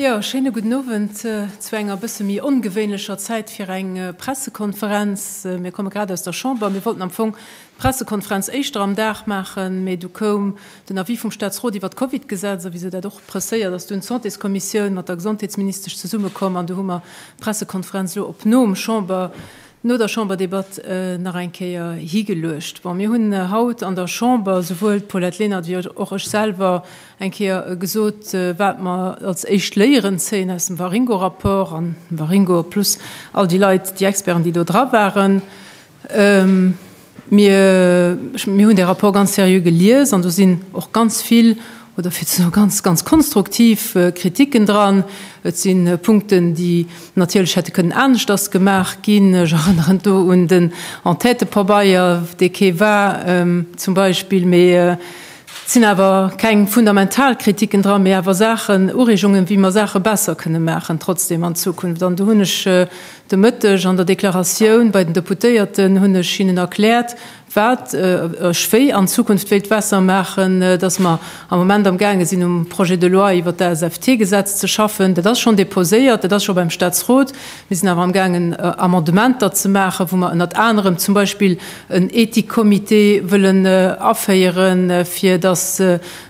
Jo, schéine gudden Owend zu enger e bësse méi ongewéinlecher Zäit fir eng Pressekonferenz. Mir komme grad aus der Chamber. Mir wollten am Fong d'Pressekonferenz éischter am Dag maachen, mee du koum den Avis vum Staatsrot iwwer d'Covid-Gesetz. A wisou dat och presséiert, ass dunn d'Santéskommissioun mat der Gesondheetsministesch zesummekomm an du hu mer d'Pressekonferenz elo op nom Chamber No der Chamberdebatt nach eng Kéier higeluecht. Bon, mir hunn haut an der Chamber, souwuel d'Paulette Lenert wéi och ech selwer, eng Kéier gesot, wat mer als éischt Léieren zéien aus dem Waringo-Rapport an dem Waringo plus all déi Leit, déi Experten, déi do dra waren. Mir hunn dee Rapport ganz seriö gelies an do sinn och ganz vill, oder fir ze soe ganz, ganz konstruktiv Kriticken dran. Et si Punkten, déi natierlech hätte kënnen aneschters gemaach ginn. Ech erënneren do un den Enquêtëpabeier, dee kee war, zum Beispill. Mee et sinn awer keng fundamental Kriticken dran, mee awer Saachen, Ureegungen, wéi mer Saache besser kënne maachen, trotzdem an Zukunft. An do hunn ech De Mëtteg an der Deklaratioun bei den Deputéierten hunn ech hinnen erkläert, wat ech wéi an Zukunft wéilt besser maachen, dass mer am Moment amgaange sinn um Projet de loi iwwert d'ASFT-Gesetz ze schaffen. Dat ass schonn deposéiert, dat ass scho beim Statsrot. Mir sinn awer amgaangen Amendementer ze maachen, wou mer ënnert anerem zum Beispill en Ethikcomité wëllen aféieren, fir dass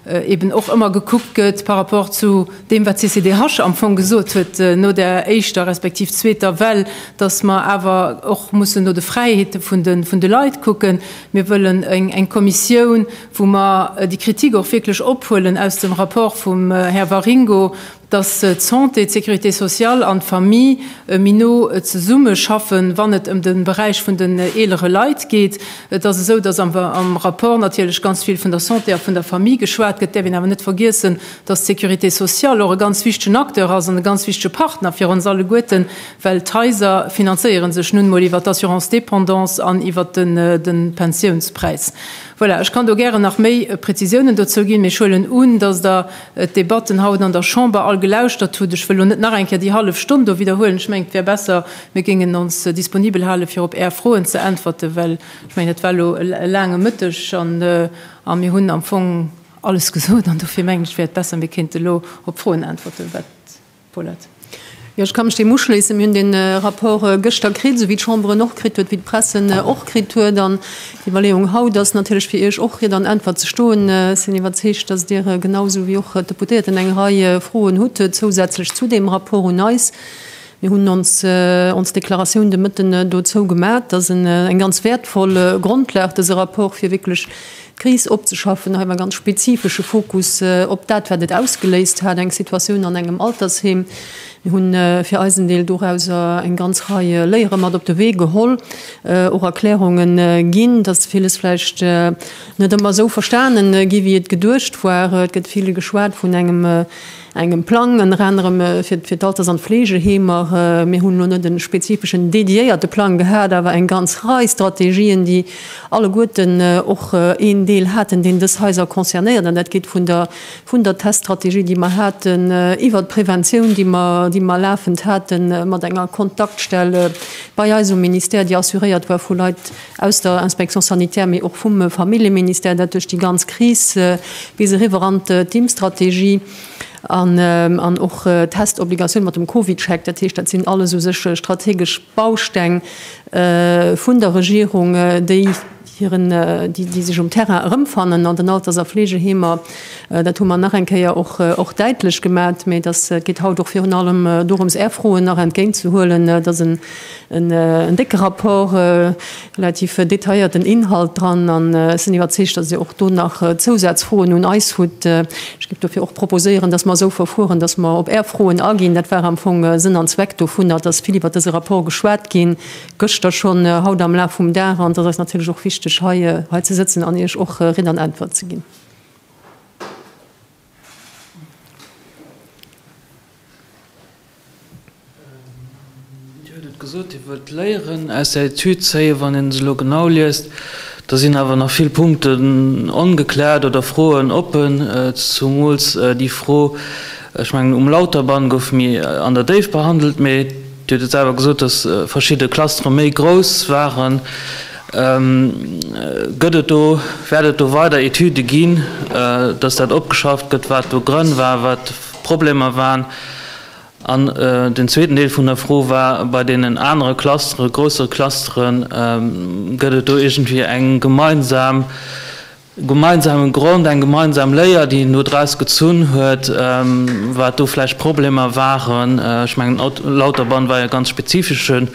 eben och ëmmer gekuckt gëtt par rapport zu deem, wat d'CCDH am Fong gesot huet no der éischter respektiv zweeter Well, dass mer awer och mussen no de Fräiheete vun de Leit kucken. Mir wëllen eng Kommissioun, wou mer déi Kritik och wierklech ophuelen aus dem Rapport vum Här Waringo, dass d'Santé, d'Sécurité sociale an d'Famille méi no zesumme schaffen, wann et ëm de Beräich vun den eelere Leit geet. Et ass esou, dass am Rapport natierlech ganz vill vun der Santé a vun der Famille geschwat gëtt. Et däerf een awer net vergiessen, dass d'Sécurité sociale och e ganz wichtegen Acteur ass an e ganz wichtege Partner fir ons alleguerten, well d'Haiser finanzéiere sech nun emol iwwert d'Assurance dépendance an iwwert de Pensiounspräis. Voilà, ech kann do gären nach méi Prezisiounen dozou ginn, mee ech huelen un, dass Der d'Debatten haut an der Chamber all gelauschtert hutt. Ech wëll elo net nach eng Kéier déi hallef Stonn do widderhuelen. Ech mengen, et wär besser, mir géingen ons disponibel hale fir op Är Froen ze äntwerten, well ech mengen, et war elo e laange Mëtteg a mir hunn am Fong alles gesot. An dofir mengen ech, et wär besser, mir kéinte elo op d'Froen äntwerten, wat Jo, ech ka mech deem uschléissen. Mir hunn dee Rapport gëschter kritt, esou wéi d'Chamber en och kritt huet, wéi d'Presse en och kritt huet. An d'Iwwerleeung haut ass natierlech, fir Iech och Ried an Äntwert ze stoen. Ech sinn iwwerzeegt, datt Dir, genau esou wéi och d'Deputéierten, eng Rei Froen hutt zousätzlech zu deem Rapport un eis. Mir hunn ons ons Deklaratioun de Mëtten dozou gemat. Et ass eng ganz wäertvoll Grondlag, dëse Rapport, fir wierklech D'Kris opzeschaffen, hei mam ganz spezifesche Fokus op dat, wat et ausgeléist hat, eng Situatioun an engem Altersheem. Mir hu fir eisen Deel dorauser eng ganz Rei Léiere mat op de Wee geholl, och Erklärunge ginn, dass villes vläicht net ëmmer esou verstane gi wéi et geduecht war. Et gëtt vill geschwat vun engem Engem Plang ënner anerem fir d'Alters an d'Fleegeheemer. Mir hunn elo net e spezifeschen, dediéierte Plang gehat, awer eng ganz Rei Strategien, déi alleguerten och een Deel haten, deen dës Haiser concernéiert. An dat geet vun der, vun der Teststrategie, déi mer haten, iwwert d'Präventioun, déi mer, déi mer lafend haten mat enger Kontaktstell bei eis um Ministère, déi assuréiert war vu Leit, aus der Inspection sanitaire, mee och vum Familljeministère, dat duerch déi ganz Kris bis eriwwer an d'Impfstrategie an och d'Testobligatioun mat dem Covidcheck, dat heescht, dat sinn alles u sech strategesch Bausteng vun der Regierung, déi hiren, déi sech um Terrain erëmfannen an den Alters a Fleegeheemer. Dat hu mer nach eng Kéier och däitlech gemat. Mee et geet haut och virun allem dorëms, Är Froen nach entgéintzehuelen, dass en En décke Rapport, relativ detailléierten Inhalt dran an ech sinn iwwerzeegt, dass Dir och do nach Zousazfroen un eis hutt. Ech géif dofir och proposéieren, dass mer esou verfueren, dass mer op Är Froen aginn. Dat war am Fong Sënn an Zweck dovunner, dass vill iwwert dëse Rapport geschwat ginn, gëschter schonn, haut am Laf vum Dag, an et ass eis natierlech och wichteg, hei ze sëtzen an Iech och Ridd an Äntwert ze ginn. Hie huet et gesot, hie wëllt d'Léieren aus der Etüd zéien. Wann een se elo genau liest, da sinn awer nach vill Punkten ongekläert oder Froen oppen. Zumools déi Fro, ech mengen um Lauterband gouf méi an der Déift behandelt, mee Dir hutt et selwer gesot, datt verschidde Clustere méi grouss waren. Gëtt et do, wäert et do weider Etüde ginn, dass dat opgeschafft gëtt, wat do Grënn war, wat d'Problemer waren? An den zweeten Deel vun der Fro war, bei deenen anere Clustere, groussere Clustere, gëtt et do iergendwéi eng gemeinsam gemeinsame Grond, eng gemeinsam Léier, déi een do draus gezunn huet, wat do vläicht Problemer waren. Ech mengen, Lauterbahn war jo e ganz spezifesche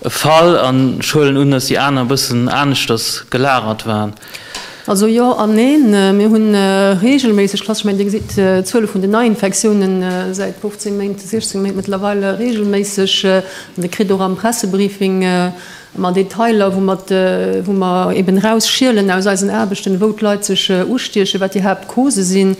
Fall an ech huelen un, dass déi aner e bëssen aneschters gelagert waren. Also jo an neen. Mir hu reegelméisseg Klassen. Ech mengen, Dir gesitt d'Zuele vun den Neiinfektiounen säit 15 Méint, 16 Méint mëttlerweil reegelméisseg. Dir kritt och am Pressebriefing Mat Detailer, wou mer, wou mer eben erausschielen aus eisen Aarbechten, wou d'Leit sech ustiechen, wat déi Haaptcausë sinn.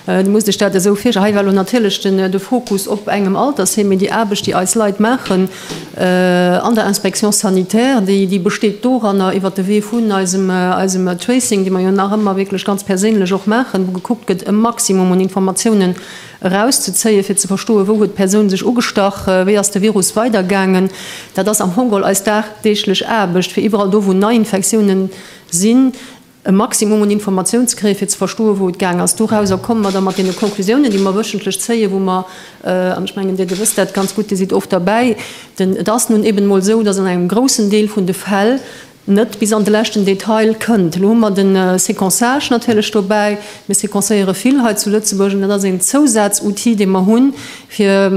Du musst dech dat esou virstellen, hei war elo natierlech de Fokus op engem Altersheem, mee déi Aarbecht, déi eis Leit maachen an der Inspection sanitaire, déi, déi besteet doranner, iwwert de Wee vun eisem, eisem Tracing, dee mer jo nach ëmmer wierklech ganz perséinlech och maachen, wou gekuckt gëtt, e Maximum un Informatiounen erauszezéien, fir ze verstoen, wou huet d'Persoun sech ugestach, wéi ass de Virus weidergaangen. Dat ass am Fong geholl eis dagdeeglech Aarbecht, fir iwwerall do, wou Neiinfektiounen sinn, e Maximum un Informatioun ze kréien, fir ze verstoen, wou et gaang ass. Dorauser komme mer da mat deene Conclusiounen, déi mer wöchentlech zéien, wou mer, an ech mengen, Dir, Dir wësst dat ganz gutt, Dir sidd oft derbäi, den, et ass nun eben emol esou, dass an engem groussen Deel vun de Fäll, net bis an de leschten Detail kënnt. Elo hu mer de Séquençage natierlech dobäi. Mir séquencéiere vill hei zu Lëtzebuerg an dat ass een Zousazoutil, dee mer hunn, fir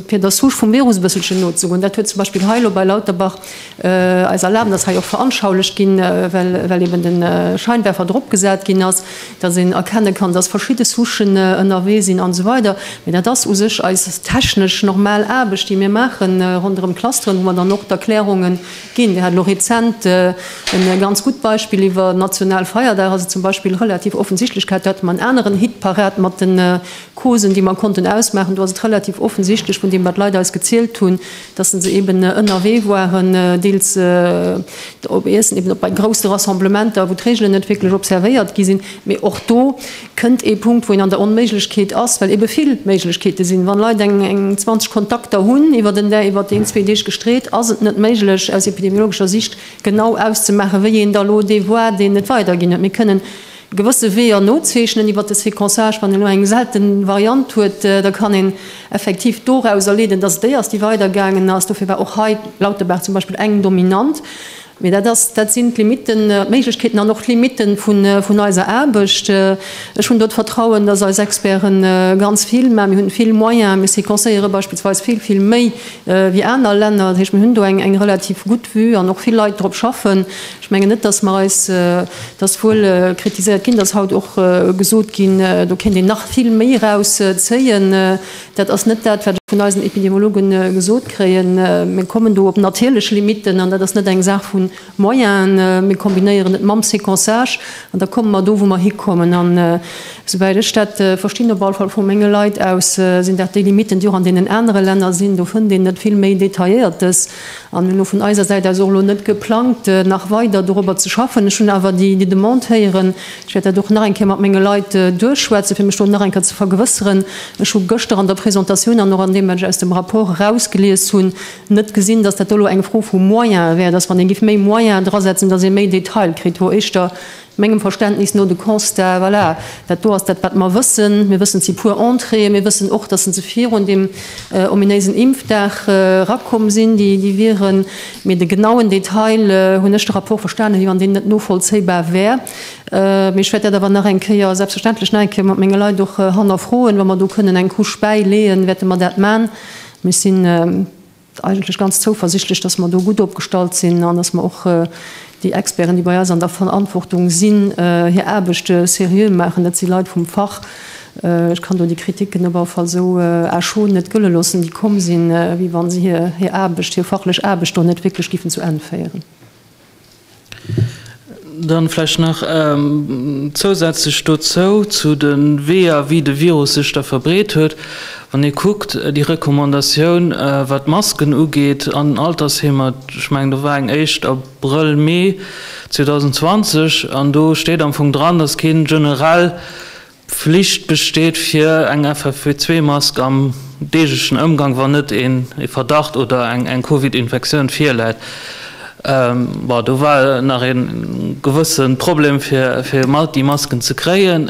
der Souche vum Virus e bësselchen nozegoen. Dat huet zum Beispill hei elo bei Lauterbach eis erlaabt, ass hei och veranschaulicht ginn, well eeben de Scheinwerfer dropgesat ginn ass, dass een erkenne kann, dass verschidde Souchen ënnerwee sinn an esou weider. Mee dat ass u sech eis technesch normal Aarbecht, déi mir maachen ronderëm d'Clusteren, wou mer dann och d'Erklärungen, Ginn. Dir hat elo rezent e ganz gutt Beispill iwwer national Feierdag. Ass et zum Beispill relativ offensichtlech, gehat dat mat aneren Hitparade, mat de Causen, déi mer konnten ausmaachen, do ass et relativ offensichtlech vun deem, wat d'Leit eis gezielt hunn, dass se eeben ënnerwee waren, deels op Iessen, eeben op bei grousse Rassemblementer, wou d'Reegelen net wierklech observéiert gi sinn. Mee och do kënnt ee Punkt, wou een an der Onméiglechkeet ass, well ebe vill Méiglechkeete sinn. Wann Leit eng 20 Kontakter hunn iwwert en Dä-, iwwert een, zwee Deeg gestreet, ass et net méiglech aus epidemiologescher Sicht genau auszemaachen, wéi een da lo dee Voie, deen et weiderginn huet. Mir kënnen gewësse Weeër nozeechnen iwwert de Séquençage. Wann een elo eng selten Variant huet, da kann een effektiv doraus erleeden, dass et déi ass, déi weidergaangen ass. Dofir war och hei Lauterbach zum Beispill eng dominant. Mee dat ass, dat sinn d'Limiten, d'Méiglechkeeten an och d'Limite vun eiser Aarbecht. Ech hunn do d'Vertrauen, dass eis Experte ganz vill, mä mir hunn vill Moyens, mir séquencéiere beispillsweis vill, vill méi wéi aner Länner, dat heescht mir hunn do eng, eng relativ gutt Vue an och vill Leit drop schaffen. Ech mengen net, dass mer eis, et ass wuel kritiséiert ginn, dass haut och gesot ginn, do kéint een nach vill méi eraus zéien. Dat ass net dat, wat ech vun eisen Epidemiologe gesot kréien. Mir kommen do op natierlech Limitten, an dat ass net eng Saach vu Moyenen. Mir kombinéieren et mam Sequençage an da komme mer do, wou mer hikommen. An esouwäit ech dat verstinn, op alle Fall vu menge Leit aus, sinn dat déi Limitten, déi och an deenen anere Länner sinn. Do fënnt een net vill méi detailléiertes. An hunn elo vun eiser Säit aus och elo net geplangt, nach weider dorobber ze schaffen. Ech hunn awer déi Demande héieren. Ech wäert dat och nach eng Kéier mat menge Leit duerchschwätzen, fir mech do nach eng Kéier ze vergewësseren. Ech hu gëschter an der Presentatioun an och an deem, wat ech aus dem Rapport erausgelies hunn, net gesinn, dass dat do elo eng Fro vu Moyene wär, dass, wann ee géif méi Moyene drasetzen, dass ee méi Detail kritt, wou éischter Mengem Verständnis no de Constat, voilà, dat do ass dat, wat mer wëssen. Mir wëssen, et si puer Entréeën. Mir wëssen och, dass se se virun deem ominéisen Impfdag erakomm sinn, déi, déi wieren. Mee de genauen Detail, hunn ech de Rapport verstanen, wéi wann deen net novollzéibar wär. Mee ech wäert dat awer nach eng Kéier, selbstverständlech nach eng Kéier mat menge Leit och hannerfroen. Wa mer do kënnen eng Couche bäileeën, wäerte mer dat man. Mee ech sinn. eigentlech ganz zouversichtlech, dass mer do gutt opgestallt sinn an dass mer och déi Experten, déi bei eis an der Verantwortung sinn, hir Aarbecht seriö maachen. Dat si Leit vum Fach. Ech kann do déi Kritiken op alle Fall esou à chaud net gëlle loossen, déi komm sinn, wéi wa se hir Aarbecht, hir fachlech Aarbecht do net wierklech géifen zu Enn féieren. Dann vläicht nach zousätzlech dozou, zu de Weeër wéi de Virus sech da verbreet huet. Wann ee kuckt, déi Recommandatioun wat d'Masken ugeet an Altersheemer, ech mengen do war eng éischt Abrëll, Mee 2020, an do steet am Fong dran, datt kee generell D'Flicht besteet fir eng FFP2-Mask am deeglechen Ëmgang, wann net een ee Verdacht oder eng Covid-Infektioun virläit. Bon, do war nach ee gewësse Problem fir déi Masken ze kréien,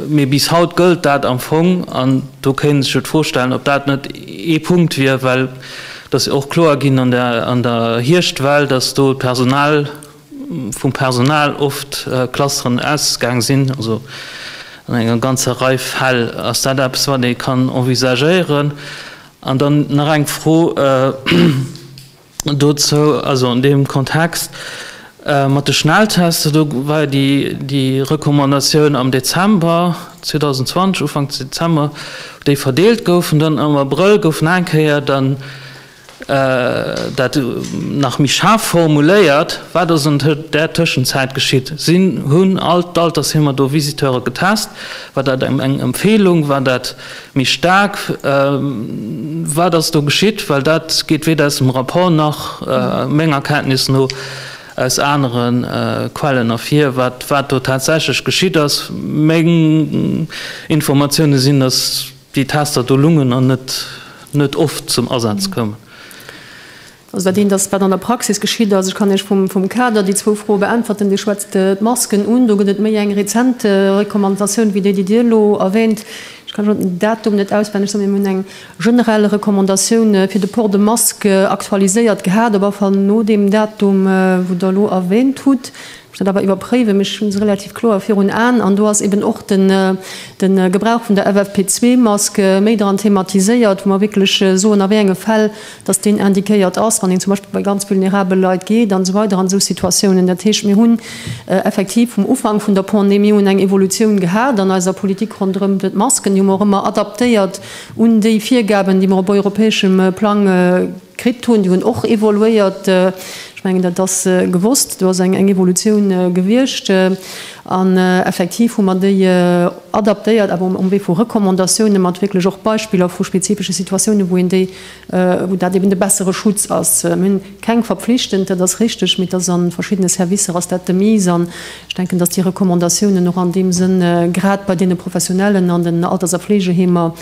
mee bis haut gëllt dat am Fong. An do kéint ee sech jo d'Fro stellen, ob dat net ee Punkt wier, well et ass jo och kloer ginn an der Hierschtwell, datt do d'Personal, vum Personal oft Clusteren ausgaang sinn, also an enger ganzer Rei Fäll ass dat eppes, wat ee kann envisagéieren. An dann nach eng Fro dozou, also an deem Kontext mat de Schnelltester, do war jo déi Recommandatioun am Dezember 2020, Ufank Dezember, wou déi verdeelt goufen, dann am Abrëll gouf nach eng Kéier dann Dat nach méi schaarf formuléiert, Wat ass an där Tëschenzäit geschitt? Si hunn all d'Altersheemer do Visiteure getest. War dat eng Empfeelung? War dat méi staark? Wat ass do geschitt? Well dat geet weder aus dem Rapport nach, menger Kenntnis no, aus anere Quellen ervir, wat do tatsächlech geschitt ass. Meng Informatioune sinn, datt Déi Tester do lungen an net net oft zum Asaz koumen. Also dat eent ass, wat an der Praxis geschitt ass. Ech kann lech vum vum Kader déi zwou Froe beäntwerten. Dir schwätzt d'Masken un. Do gëtt et méi eng rezent Recommandatioun wéi déi, déi Dir elo erwähnt. Ech kann elo den Datum net auswenneg soen, mee mir hunn eng generell Recommandatioun fir de Port de masque aktualiséiert gehat, op alle Fall no deem Datum, wou Der elo erwähnt hutt. Muss dat awer iwwerpréiwen, mee ech hunn se relativ kloer virun Aen. An do ass eben och de Gebrauch vun der FFP2-Mask méi dran thematiséiert, wou mer wierklech soen, a wéi enge Fäll datt deen indiquéiert ass, wann een zum Beispill bei ganz vulnerabel Leit geet an esou weider an esou Situatiounen. Dat heescht, mir hunn effektiv vum Ufank vun der Pandemie un eng Evolutioun gehat an eiser Politik ronderëm d'Masken. Déi hu mer och ëmmer adaptéiert un déi Virgaben, déi mer op europäeschem Plang kritt hunn, déi hunn och evoluéiert. Ech mengen, dat ass gewosst, do ass eng Evolutioun gewiescht. An effektiv hu mer déi adaptéiert, awer um Wee vu Recommandatiounen, mat wierklech och Beispiller vu spezifesche Situatiounen, wou een déi, wou dat eben de bessere Schutz ass. Mir hunn keng verpflichtend, dat ass richteg, mee et ass a verschiddene Servicer ass dat de Mise. An ech denken, datt déi Recommandatiounen och an deem Sënn, grad bei deene Professionellen an den Alters a Fleegeheemer,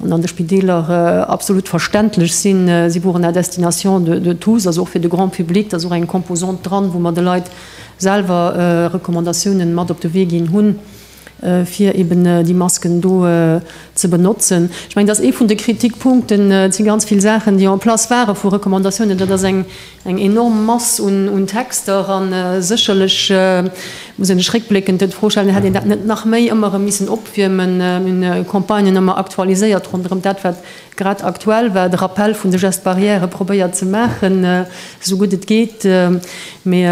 an an de Spideeler absolut verständlech sinn, si woren la destination de de tous, also och fir de grand public, da ass och eng Composante dran, wou mer de Leit selwer Recommandatiounen mat op de Wee ginn hunn, fir eben déi Masken do ze benotzen. Ech mengen, dat ass ee vun de Kritikpunkten. Et si ganz vill Saachen, déi en place ware vu Recommandatiounen, dat ass eng Eng enorm Mass un Texter a sécherlech muss een sech réckbléckend dann d'Fro stellen, hätt een dat net nach méi ëmmer erëm missen opwiermen, un Campagnen ëmmer aktualiséiert ronderëm dat, wat grad aktuell war, de Rappel vun de Gestes barrières probéiert ze maachen, esou gutt et geet. Mee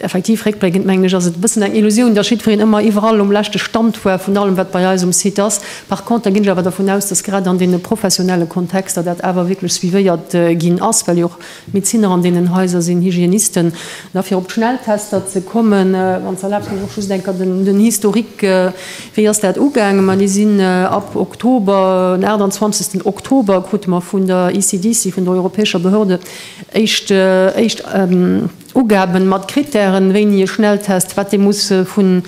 Effektiv, réckbléckend mengen ech, ass et e bëssen eng Illusioun, dass jiddwereen ëmmer iwwerall um leschte Stand war vun allem, wat bei eis um Site ass. Par contre ginn ech awer dervun aus, dass grad an deene professionelle Kontexter dat awer wierklech suivéiert ginn ass, well jo och Medezinner an deenen Haiser sinn, Hygienisten. An da fir op d'Schnelltester ze kommen, wann s de erlaabst, mech och just eng Kéier den Historique, Wéi ass dat ugaangen? Ma déi sinn ab Oktober, den 28. Oktober krute mer vun der ECDC, vun der europäescher Behörde, éischt, éischt, Ugaben mat Kritären, wéini e Schnelltest, wat dee muss vu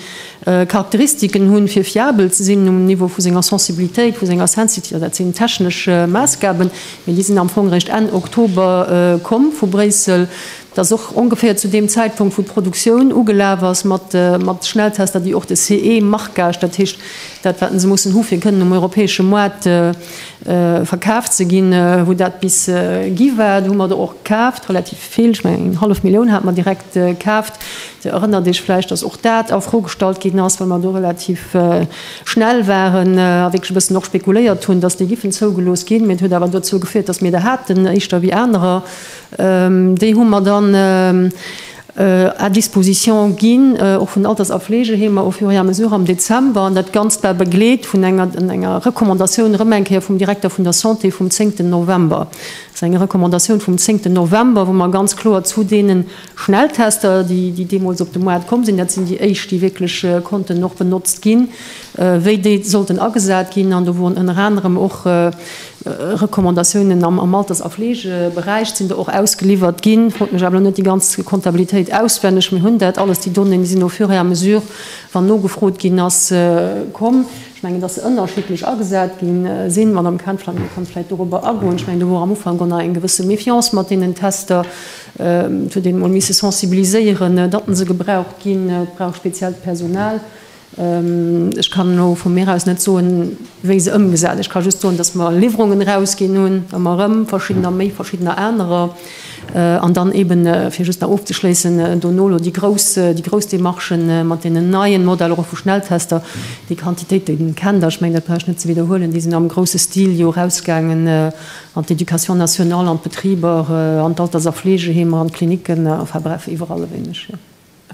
Charakteristiken hunn, fir fiabel ze sinn um Niveau vu senger Sensibilitéit, vu senger Sensitivitéit, dat sinn technesch Maassgaben, mee déi sinn am Fong réischt Enn Oktober komm vu Bréissel. Dat ass och ongeféier zu deem Zäitpunkt, wou d'Produktioun ugelaf ass mat Schnelltester, déi och de CE-marquage, dat heescht dat, wat se mussen hu fir kënnen um europäesche Moart, Verkaaft ze ginn, wou dat bis gi war. Do hu mer der och kaaft, relativ vill, ech mengen eng hallef Millioun hate mer direkt kaaft. Dir erënnert Iech vläicht, datt och dat a Fro gestallt ginn ass, well mer do relativ schnell waren a wierklech e bëssen och spekuléiert hunn, datt déi giffen zougelooss ginn. Mee et huet awer dozou geféiert, datt mir der haten, éischter wéi anerer. Déi hu mer dann à disposition ginn, och vun den Alters a Fleegeheemer au fur et à mesure am Dezember, an dat Ganzt war begleet vun enger Recommandatioun erëm eng Kéier vum Direkter vun der Santé vum zéngten November. Dat ass eng Recommandatioun vum zéngten November, wou mer ganz kloer zu deene Schnelltester, déi deemools op de Moart komm sinn, dat sinn déi éischt, déi wierklech konnten och benotzt ginn, wéi déi sollten agesat ginn. An do woren ënner anerem och Recommandatiounen am Alters a Fleegeberäich sinn do och ausgeliwwert ginn. Ech frot mech awer elo net déi ganz Kontabilitéit auswenneg. Mir hunn dat alles, déi Donnéeën, déi sinn au fur et à mesure, wann nogefrot ginn ass, komm. Ech mengen, dass se ënnerschiddlech agesat gi sinn. D'Madame Cantwell kann vläicht dorobber agoen. Ech mengen, do wor am Ufank och nach eng gewësse Méfiance mat deenen Tester. Et huet een emol misse sensibiliséieren, datt se gebraucht ginn. Et brauch speziellt Personal. Ech kann elo vu mir aus net soen, wéi se ëmgesat. Ech ka just soen, datt mer Liwwerungen erausginn hunn, ëmmer erëm, verschiddener méi, verschiddener anerer. An dann eeben, fir just nach ofzeschléissen, dono elo déi grouss, déi grouss Demarchen mat deenen neien Modeller och vu Schnelltester. Déi Quantitéiten, Dir kennt der, ech mengen, dat brauch ech net ze widderhuelen, déi sinn am grousse Stil jo erausgaangen an d'Éducation nationale, an d'Betriber, an d'Alters a Fleegeheemer, an d'Klinicken, enfin bref, iwwerall e wéineg.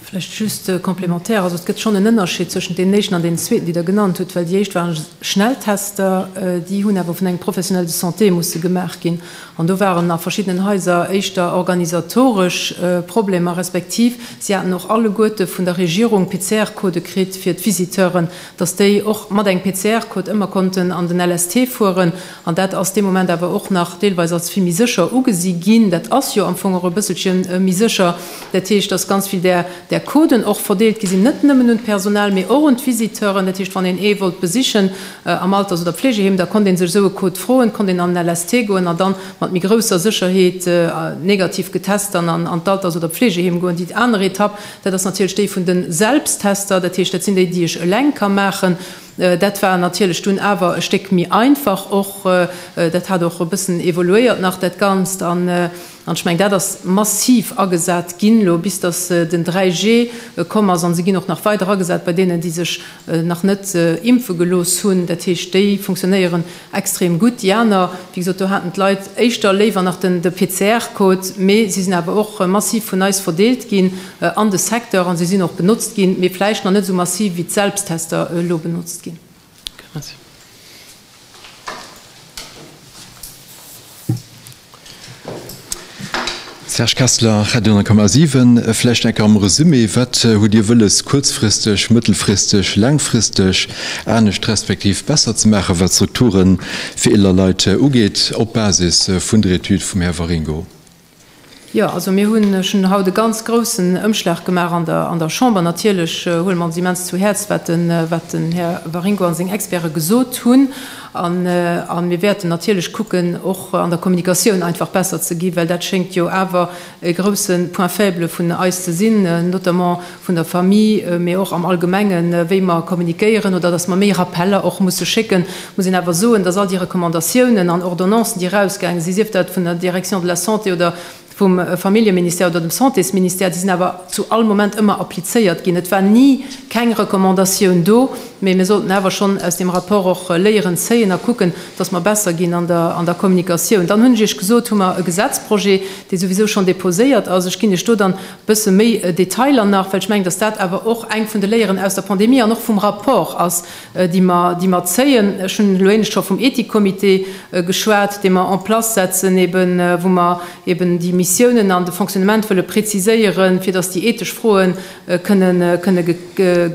Vläicht just complémentaire, also et gëtt schonn en Ënnerscheed zwëschent deenen éischten an deenen zweeten, déi Der genannt hutt, well déi éischt ware Schnelltester, déi hunn awer vun engem Professionnel de santé musse gemaach ginn an do waren a verschiddenen Haiser éischter organisatoresch Problemer, respektiv si haten och alleguerte vun der Regierung PCR-Codë kritt fir d'Visiteuren, dass déi och mat engem PCR-Code ëmmer konnten an den LST fueren, an dat ass dee Moment awer och nach deelweis als vill méi sécher ugesi ginn. Dat ass jo am Fong och e bësselche méi sécher. Dat heescht, dass ganz vill där där Coden och verdeelt gi sinn, net nëmmen un d'Personal, mee och un d'Visiteuren. Dat heescht, wann een ee wollt besichen am Alters oder Pflegeheem, da konnt ee sech esou e Code froen, konnt een an den LST goen a dann mat méi grousser Sécherheet negativ getest dann an d'Alters oder Pflegeheem goen. Déi aner Etapp, Dat ass natierlech déi vun de Selbsttester, dat heescht, dat sinn déi, déi ech eleng ka maachen. Dat war natierlech dunn awer e Stéck méi einfach och. Dat hat och e bëssen evoluéiert nach dat Ganzt. An ech mengen, dat ass massiv agesat ginn elo, bis datt den 3G komm ass. An se ginn och nach weider agesat bei deenen, déi sech nach net impfe gelooss hunn. Dat heescht, déi funktionéieren Extrem gutt, déi aner, wéi gesot, do haten d'Leit éischter léiwer nach den PCR-Code, mee si sinn awer och massiv vun eis verdeelt ginn an de Secteur a se sinn och benotzt ginn, mee vläicht nach net esou massiv wéi d'Selbsttester elo benotzt ginn. Okay, merci. Serge Kessler, Radio 10,7, Vläicht enker am Resumé, wat hutt Dir wëlles kuerzfristeg, mëttelfristeg, laangfristeg anescht respektiv besser ze maachen, wat d'Strukture fir eeler Leit ugeet, op Basis vun der Etüd vum Här Waringo? Jo, also mir hunn, ech hunn haut e ganz groussen Ëmschlag gemaach an der Chamber. Natierlech huele mer ons immens zu Häerz, wat den Här Waringo a seng Experte gesot hunn. A mir wäerten natierlech kucken, och an der Kommunikatioun einfach besser ze gi, well dat schéngt jo awer e grouse Point faible vun eis ze sinn, notamment vun der Famille, mee och am Allgemengen, wéi mer kommunikéieren oder datt mer méi Rappeller och musse schécken, muss een awer soen, datt all déi Recommandatiounen an Ordonnancen, déi erausgaange sinn, sief dat vun der Direction de la Santé oder. vum Familljeministère oder dem Santésministère, déi sinn awer zu all Moment ëmmer applizéiert ginn. Et war ni keng Recommandatioun do, mee mir sollten awer schonn aus deem Rapport och Léieren zéien a kucken, dass mer besser ginn an der Kommunikatioun. Dann hunn ech Iech gesot, hu mer e Gesetzprojet, dee souwisou schonn deposéiert ass. Ech ginn Iech do dann e bësse méi Detailer nach, well ech mengen, dass dat awer och eng vun de Léieren aus der Pandemie an och vum Rapport ass, déi mer zéien. Ech hunn elo éinescht scho vum Ethikcomité geschwat, dee mer en place setzen, eeben wou mer eeben déi Missiounen an de Fonctionnement wëlle preziséieren, fir datt déi ethesch Froe kënne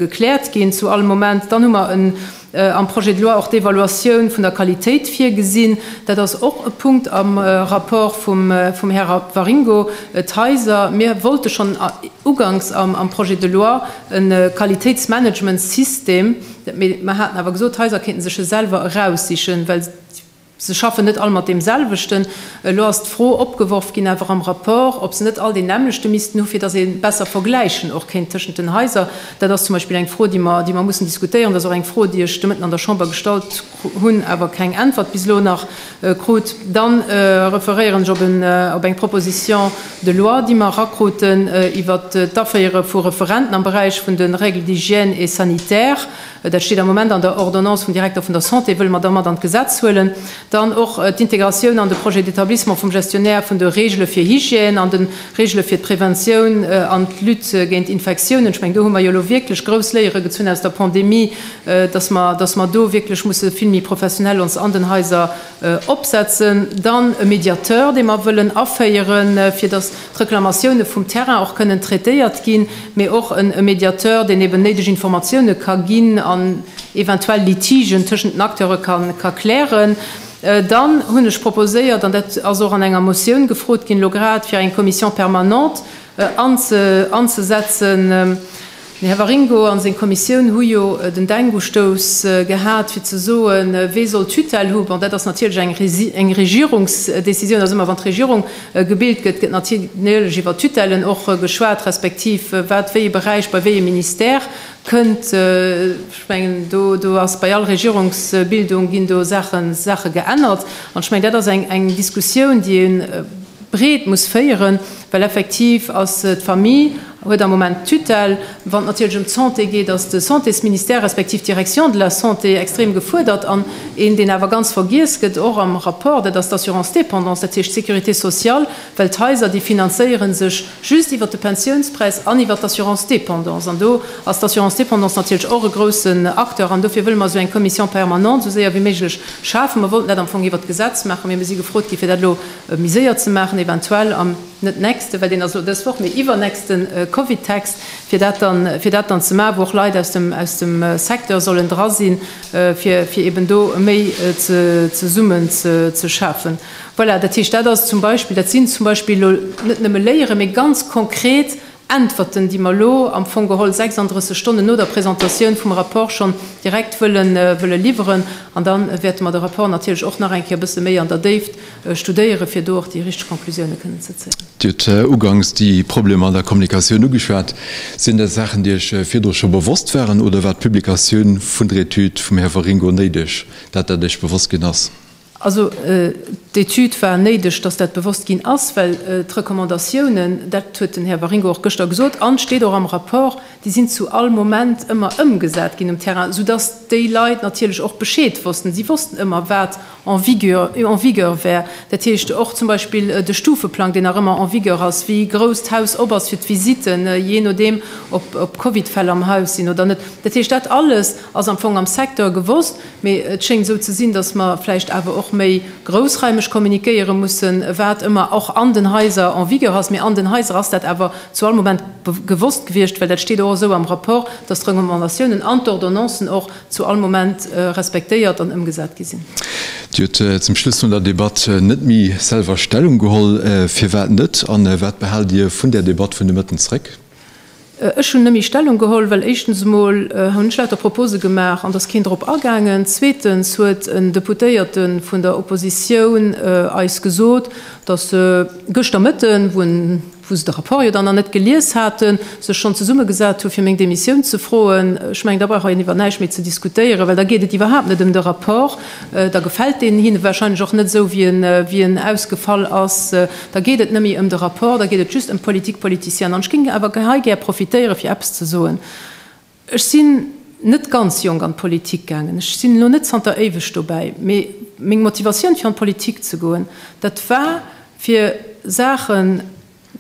gekläert ginn zu all Moment. Dann hu mer am Projet de loi och d'Evaluatioun vun der Qualitéit virgesinn. Dat ass och e Punkt am Rapport vum Här Waringo. D'Haiser, mir wollte schonn uganks am Projet de loi, e Qualitéitsmanagementsystem, mee mer haten awer gesot, d'Haiser kéinten sech e selwer eraussichen, well se schaffen net all mat deem selwechten. Elo ass d'Fro opgeworf ginn, awer am Rapport, ob se net all deen nämmlechte missten hu fir datt ee besser vergläichen och kéint tëschent den Haiser. Dat ass zum Beispill eng Fro, déi mer mussen diskutéieren. Dat ass och eng Fro, déi ech de Mëtten an der Chamber gestallt hunn awer keng Äntwert bis elo nach krut. Dann referéieren ech op eng Proposition de loi, déi mer erakruten iwwert d'Aféiere vu Referenten am Beräich vun de Règles d'hygiène et sanitaires. Dat steet am Moment an der Ordonnance vum Direkter vun der Santé, wëlle mer da mat an d'Gesetz huelen. Dann och d'Integratioun an de Projet d'établissement vum Gestionnaire vun de Regele fir Hygiène an de Regele fir d'Preventioun an d'Lutte géint Infektiounen. Ech mengen, do hu mer jo elo wierklech grouss Léiere gezunn aus der Pandemie, dass mer, dass mer do wierklech musse vill méi professionell ons an den Haiser opsetzen. Dann e Mediateur, dee mer wëllen aféieren, fir dass d'Reklamatioune vum Terrain och kënnen traitéiert ginn, mee och e Mediateur, deen eeben néideg Informatioune ka ginn an eventuell Litigen tëschent den Acteure ka klären. Dann hunn ech proposéiert, an dat ass och an enger Motioun gefrot ginn elo grad, fir eng Commission permanente anzesetzen, Den Här Waringo a seng Kommissioun hu jo den Denkustouss gehat, fir ze soen, Wee soll d'Tutelle hu? Bon, dat ass natierlech eng Regierungsdecisioun. Also ëmmer wann d'Regierung gebilt gëtt, gëtt natierlech iwwer Tutellen och geschwat, respektiv wat wéi e Beräich bei wéi e Ministère kënnt. Ech mengen, do ass bei all Regierungsbildung ginn do Saache geännert. An ech mengen, dat ass eng Diskussioun, déi ee breet muss féieren, well effektiv ass d'Famille huet am Moment d'Tutelle. Wann et natierlech ëm d'Santé geet, ass de Santésministère respektiv d'Direction de la santé extrem gefuerdert an een, deen awer ganz vergiess gëtt, och am Rapport, dat ass d'Assurance dépendance, dat heescht d'Sécurité sociale, well d'Haiser, déi finanzéiere sech just iwwert de Pensiounspreis an iwwert d'Assurance dépendance an do ass d'Assurance dépendance natierlech och e groussen Acteur an dofir wëlle mer esou eng Commission permanente esou séier wéi méiglech schafen. Mer wollten dat am Fong iwwert d'Gesetz maachen, mee mer si gefrot ginn, fir dat elo méi séier ze maachen, eventuell am net nächste, well deen ass elo dës Woch, mee iwwernächste Covid-Text, fir dat dann, fir dat dann ze maachen, wou och Leit aus dem, aus dem Secteur sollen dra sinn, fir, fir eben do méi ze, zesummen ze, ze schafen. Voilà, dat heescht, dat ass zum Beispill, dat sinn zum Beispill elo net nëmme Léieren, mee ganz konkret Äntwerten, déi mer elo am Fong geholl 36 Stonnen no der Presentatioun vum Rapport schonn direkt wëllen, wëlle liwweren. An da wäerte mer de Rapport natierlech och nach eng Kéier e bësse méi an der Déift studéieren, fir do och déi richteg Conclusiounen kënnen ze zéien. Dir hutt uganks déi Problemer an der Kommunikatioun ugeschwat. Sinn dat Saachen, déi Iech virdru scho bewosst waren, oder war d'Publikatioun vun der Etüd vum Här Waringo néideg, dat dat Iech bewosst ginn ass? Also d'Etüd war néideg, dass dat bewosst ginn ass, well d'Recommandatiounen, dat huet den Här Waringo och gëschter gesot an steet och am Rapport, déi sinn zu all Moment ëmmer ëmgesat ginn um Terrain, soudass déi Leit natierlech och Bescheed wossten. Si wossten ëmmer, wat en vigueur, eu en vigueur wär, dat heescht och zum Beispill de Stufeplang, deen nach ëmmer en vigueur ass, wéi grouss d'Haus op ass fir d'Visitten, jee nodeem ob ob Covid-Fäll am Haus sinn oder net. Dat heescht, dat alles ass am Fong am Secteur gewosst, mee et schéngt esou ze sinn, datt mer vläicht awer och méi groussraimeg kommunikéiere mussen, wat ëmmer och an den Haiser en vigueur ass. Mee an den Haiser ass dat awer zu all Moment gewosst gewiescht, well dat steet och esou am Rapport, datt d'Recommandatiounen an d'Ordonnancen och, zu all Moment respektéiert an ëmgesat gi sinn. Dir hutt zum Schluss vun der Debatt net méi selwer Stellung geholl. Firwat net? A wat behaalt Dir vun där Debatt vun de Mëtten zréck? Ech hunn net méi Stellung geholl, well éischtens emol hunn ech lauter Propose gemaach an et ass keen drop agaangen. Zweetens huet en Deputéierte vun der Oppositioun eis gesot, datt gëschter Mëtten, wou en wou se de Rapport jo dann nach net gelies haten, sech schonn zesummegesat hu fir meng Demissioun ze froen. Ech mengen, da brauch een iwwer näischt méi ze diskutéieren, well da geet et iwwerhaapt net ëm de Rapport, da gefält deen hinne warscheinlech och net esou wéi en ausgefall ass, da geet et net méi ëm de Rapport, da geet et just ëm d'Politique politicienne. An ech géing awer hei gär profitéiere fir eppes ze soen. Ech sinn net ganz jonk an d'Politik gaangen, ech sinn elo net zanter éiweg dobäi, mee meng Motivatioun fir an d'Politik ze goen, dat war fir Saache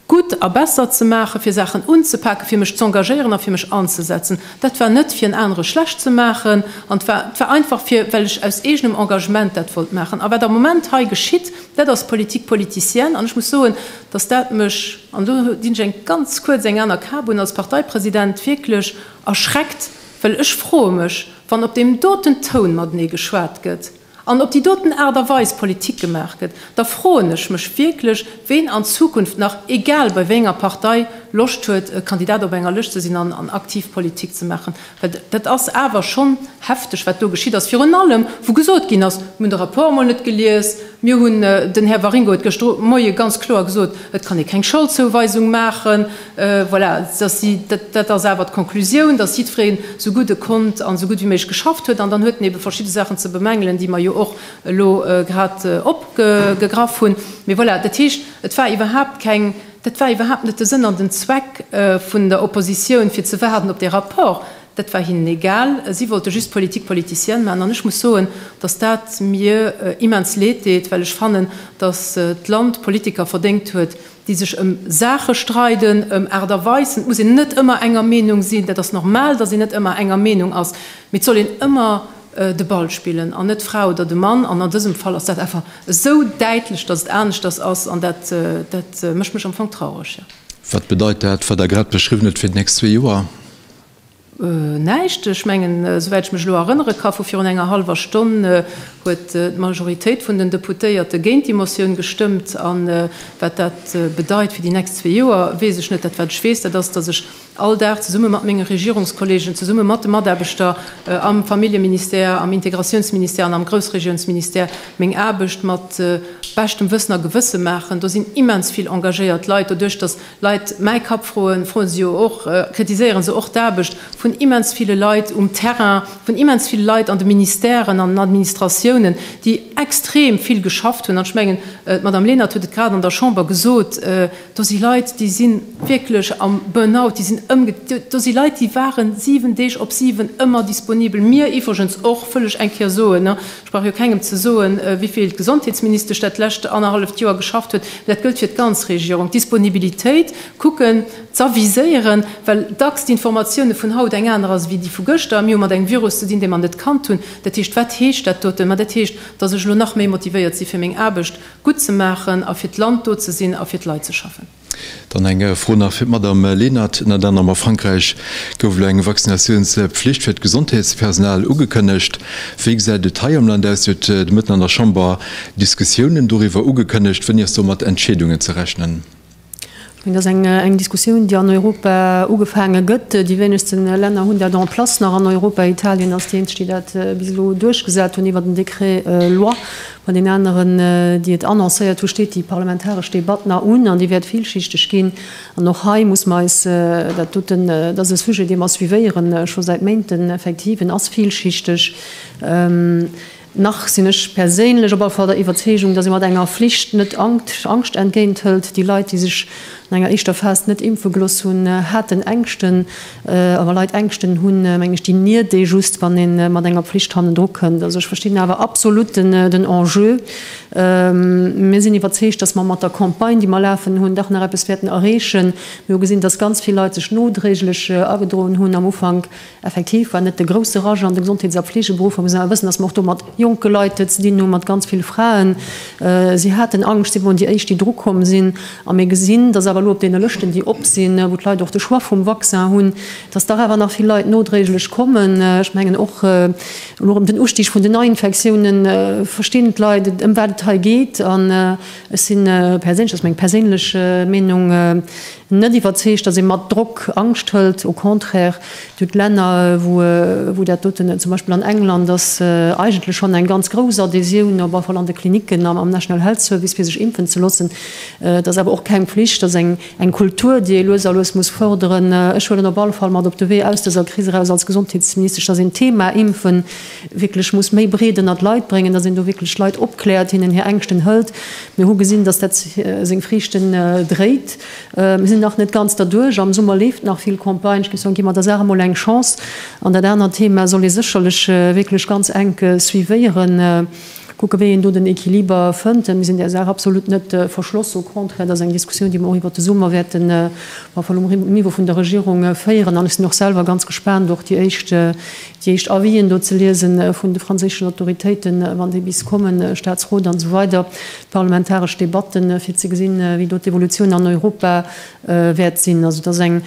gutt a besser ze maachen, fir Saachen unzepaken, fir mech z'engagéieren a fir mech anzesetzen. Dat war net fir en anere schlecht ze maachen an et war einfach fir, well ech aus eegenem Engagement dat wollt maachen. A wat am Moment hei geschitt, dat ass Politique politicienne an ech muss soen, datt dat mech, an elo dinn ech eng ganz kuerz eng aner Kap un, als Parteipresident wierklech erschreckt, well ech froe mech, wann op deem doten Toun matenee geschwat gëtt an op déi doten Aart a Weis Politik gemaach gëtt, da froen ech mech wierklech, ween an Zukunft nach, egal bei wéi enger Partei, Loscht huet, Kandidat op enger Lëscht ze sinn an aktiv Politik ze maachen. Dat ass awer schonn hefteg, wat do geschitt ass. Virun allem, wou gesot ginn ass, mir hunn de Rapport emol net gelies, mir hunn, den Här Waringo huet gëschter de Moie ganz kloer gesot, et kann ee keng Scholdzouweisung maachen. Voilà, dat ass awer d'Conclusioun, dass jiddwereen esou gutt e konnt an esou gutt wéi méiglech geschafft huet. An dann huet en eebe verschidde Saachen ze bemängelen, déi mer jo och elo grad opgegraff hunn. Mee voilà, dat heescht, et war iwwerhaapt keng. Dat war iwwerhaapt net de Sënn an den Zweck vun der Oppositioun, fir ze waarden op dee Rapport. Dat war hinnen egal. Si wollte just politique politicienne maachen. An ech muss soen, dass dat mir immens leed deet, well ech fannen, dass d'Land Politiker verdéngt huet, déi sech ëm Saache streiden, ëm Aart a Weisen. Et muss een net ëmmer enger Meenung sinn. Dat ass normal, dass een net ëmmer enger Meenung ass. Mee et soll een ëmmer de Ball spillen an net d'Fra oder de Mann an an dësem Fall ass dat einfach esou däitlech, datt et aneschters ass an dat dat mécht mech am Fong traureg, jo. Wat bedeit dat, wat Der grad beschriwwen hutt, fir d'nächst zwee Joer? Näischt. Ech mengen, souwäit ech mech elo erënnere ka vu virun enger hallwer Stonn, huet d'Majoritéit vun den Deputéierte géint déi Motioun gestëmmt. A wat dat bedeit fir déi nächst zwee Joer, weess ech net. Dat wat ech weess, dat ass, datt ech all Dag zesumme mat menge Regierungskollegen, zesumme mat de Mataarbechter am Familljeministère, am Integratiounsministère an am Groussregiounsministère meng Aarbecht mat beschtem Wëssen a Gewësse maachen. Do sinn immens vill engagéiert Leit. Doduerch datt Leit mäi Kapp froen, froe se jo och, kritiséiere se och d'Aarbecht vun immens ville Leit um Terrain, vun immens ville Leit an de Ministèren, an den Administratiounen, déi extrem vill geschafft hunn. An ech mengen d'Madame Lenert huet et grad an der Chamber gesot, Do si Leit, déi si wierklech am Burnout, déi sinn ëmge. Do si Leit, déi ware siwen Deeg op siwen ëmmer disponibel. Mir iwwregens och, wëll ech eng Kéier soen. Ech brauch jo kengem ze soen, wéi vill d'Gesondheetsministesch dat lescht annerhalleft Joer geschafft huet. Mä dat gëllt fir d'ganz Regierung, d'Disponibilitéit kucken z'aviséieren, well dacks d'Informatioune vun haut eng aner ass wéi déi vu gëschter. Mir hu mat engem Virus ze dinn, dee mer net kannt hunn. Dat heescht, wat heescht dat doten? Mä dat heescht, datt ech elo nach méi motivéiert si fir meng Aarbecht. gutt ze maachen a fir d'Land do ze sinn a fir d'Leit ze schaffen. Dann eng Fro nach fir d'Madamm Lenert. Ënner anerem a Frankräich gouf elo eng Vaccinatiounsflicht fir d'Gesondheetspersonal ugekënnegt. Wéi gesäit et hei am Land aus? Huet de Mëtten an der Chamber Diskussiounen doriwwer ugekënnegt? Wéini ass do mat Entscheedungen ze rechnen? Mee dat ass eng Diskussioun, déi an Europa ugefaange gëtt. Déi wéinegste Länner hunn dat en place nach an Europa. Italien ass déi eenzeg, déi dat bis elo duerchgesat hunn iwwert en Decret-loi. Bei den aneren, déi et annoncéiert hunn, steet déi parlamentaresch Debatt nach un an déi wäert villschichteg ginn. An och hei muss mer eis dat doten, dat ass e Sujet, dee mer suivéieren scho säit Méinten, effektiv, en ass villschichteg, Nach sinn ech perséinlech op alle Fall der Iwwerzeegung, datt ee mat enger Flicht net Angscht entgéint hëlt. Déi Leit, déi sech an enger éischter Phas net impfe gelooss hunn, haten Ängschten. A wa Leit Ängschten hunn, mengen ech, déi niert ee just, wann ee mat enger Pflicht hannendru kënnt. Also ech verstinn awer absolut den Enjeu. Mir sinn iwwerzeegt, datt mer mat der Campagne, déi mer lafen hunn, dach nach eppes wäerten erreechen. Mir hu gesinn, datt ganz vill Leit sech nodréiglech agedroen hunn am Ufank. Effektiv war net de grousse Rush an de Gesondheets a Fleegeberuff. Mä muss awer wëssen, datt mer och do mat jonke Leit ze dinn hu mat ganz vill Fraen. Si haten Angscht, si woren déi éischt déi dru komm sinn. A mir gesinn, datt awer elo op deene Lëschten déi op sinn, wou d'Leit och de Choix vum Vaccin hunn, datt dach awer nach vill Leit nodréiglech kommen. Ech mengen och elo erëm den Ustig vun den Neiinfektioune verstinn d'Leit ëm wat et hei geet. An ech si perséinlech, dat ass meng perséinlech Meenung, Net iwwerzeegt, datt ee mat Drock Angscht hëlt. Au contraire, et gëtt Länner, wou dat doten, zum Beispill an England, ass eigentlech schonn eng ganz grouss Adhésioun, op alle Fall an de Klinicken am National Health Service, fir sech impfen ze loossen. Et ass awer och keng Pflicht. Et ass eng Kultur, déi ee lues a lues muss fërderen. Ech huelen op alle Fall mat op de Wee aus dëser Kris eraus als Gesondheetsministesch, datt een d'Thema Impfen, wierklech muss méi breet ënnert d'Leit bréngen, datt een do wierklech Leit opkläert, hinnen hir Ängschten hëlt. Mir hu gesinn, datt dat seng Friichten dréit. Mir sinn nach net ganz derduerch. Am Summer leeft nach vill Campagne. Ech géif soen, gi mer der Saach emol eng Chance. An dat anert Thema soll ee sécherlech wierklech ganz enk suivéieren, kucke wéi een do den Equiliber fënnt. Mir sinn där Saach absolut net verschloss, au contraire, dat ass eng Diskussioun, déi mer och iwwert de Summer wäerten um Niveau vun der Regierung féieren. An ech sinn och selwer ganz gespaant, och déi éischt Déi éischt Avis'en do ze liesen vun de franséischen Autoritéiten, wann déi bis kommen, Staatsrot an esou weider, d'parlamentaresch Debatten, fir ze gesinn, wéi do d'Evolutioun an Europa wäert sinn. Also et ass eng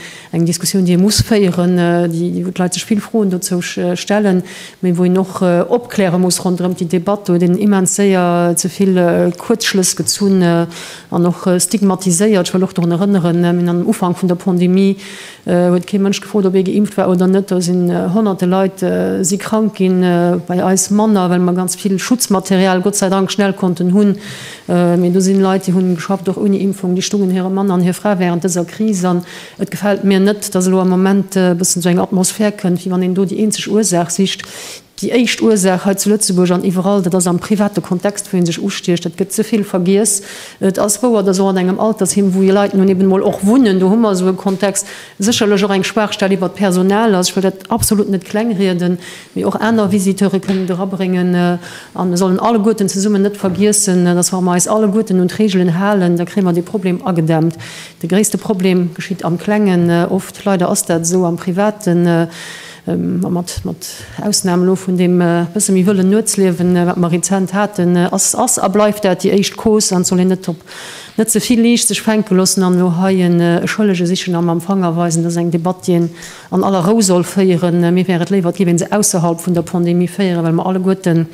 Diskussioun, déi ee muss féieren, wou d'Leit sech vill Froen dozou stellen, mee wou een och opkläre muss ronderëm déi Debatt do, deen immens séier ze vill Kuerzschlëss gezunn an och stigmatiséiert. Ech wëll och dorun erënneren, mir hunn am Ufank vun der Pandemie, Huet kee Mënsch gefrot ob ee geimpft war oder net. Do sinn honnerte Leit si krank ginn, bei eis manner, well mer ganz vill Schutzmaterial Gott sei Dank schnell konnten hunn. Mee do sinn Leit déi hunn geschafft och ouni Impfung, déi stungen hire Mann an hir Fra während dëser Kris. An et gefält mir net, dass elo am Moment e bëssen esou eng Atmosphär kënnt wéi wann een do déi eenzeg Ursaach sicht. Déi éischt Ursaach hei zu Lëtzebuerg an iwwerall, dat ass am private Kontext, wou ee sech ustiecht. Dat gëtt ze vill vergiess. Et ass wouer, dass och an engem Altersheem, wou jo Leit nun eben emol och wunnen, do hu mer esou e Kontext, sécherlech och eng Schwaachstell iwwert d'Personal ass. Ech wëll dat absolut net klengrieden, mee och aner Visiteure kënnen et erabréngen. A mir sollen alleguerten zesummen net vergiessen, dass wa mer eis alleguerten un d'Reegelen halen, da kréie mer dee Problem agedämmt. De gréisste Problem geschitt am Klengen oft. Leider ass dat esou am Privaten. Mat Ausnam elo vun deem bësse méi wëllen Nuetsliewen, wat mer rezent haten, ass a bleift dat déi éischt Cause an et soll een net op net ze vill liicht sech fänke loossen an elo hei e Schëllege sichen a mam Fanger weisen. Dat ass eng Debatt, déi een an aller Rou soll féieren. Mir wär et léiwer, et géif ee se ausserhalb vun der Pandemie féieren, well mer alleguerten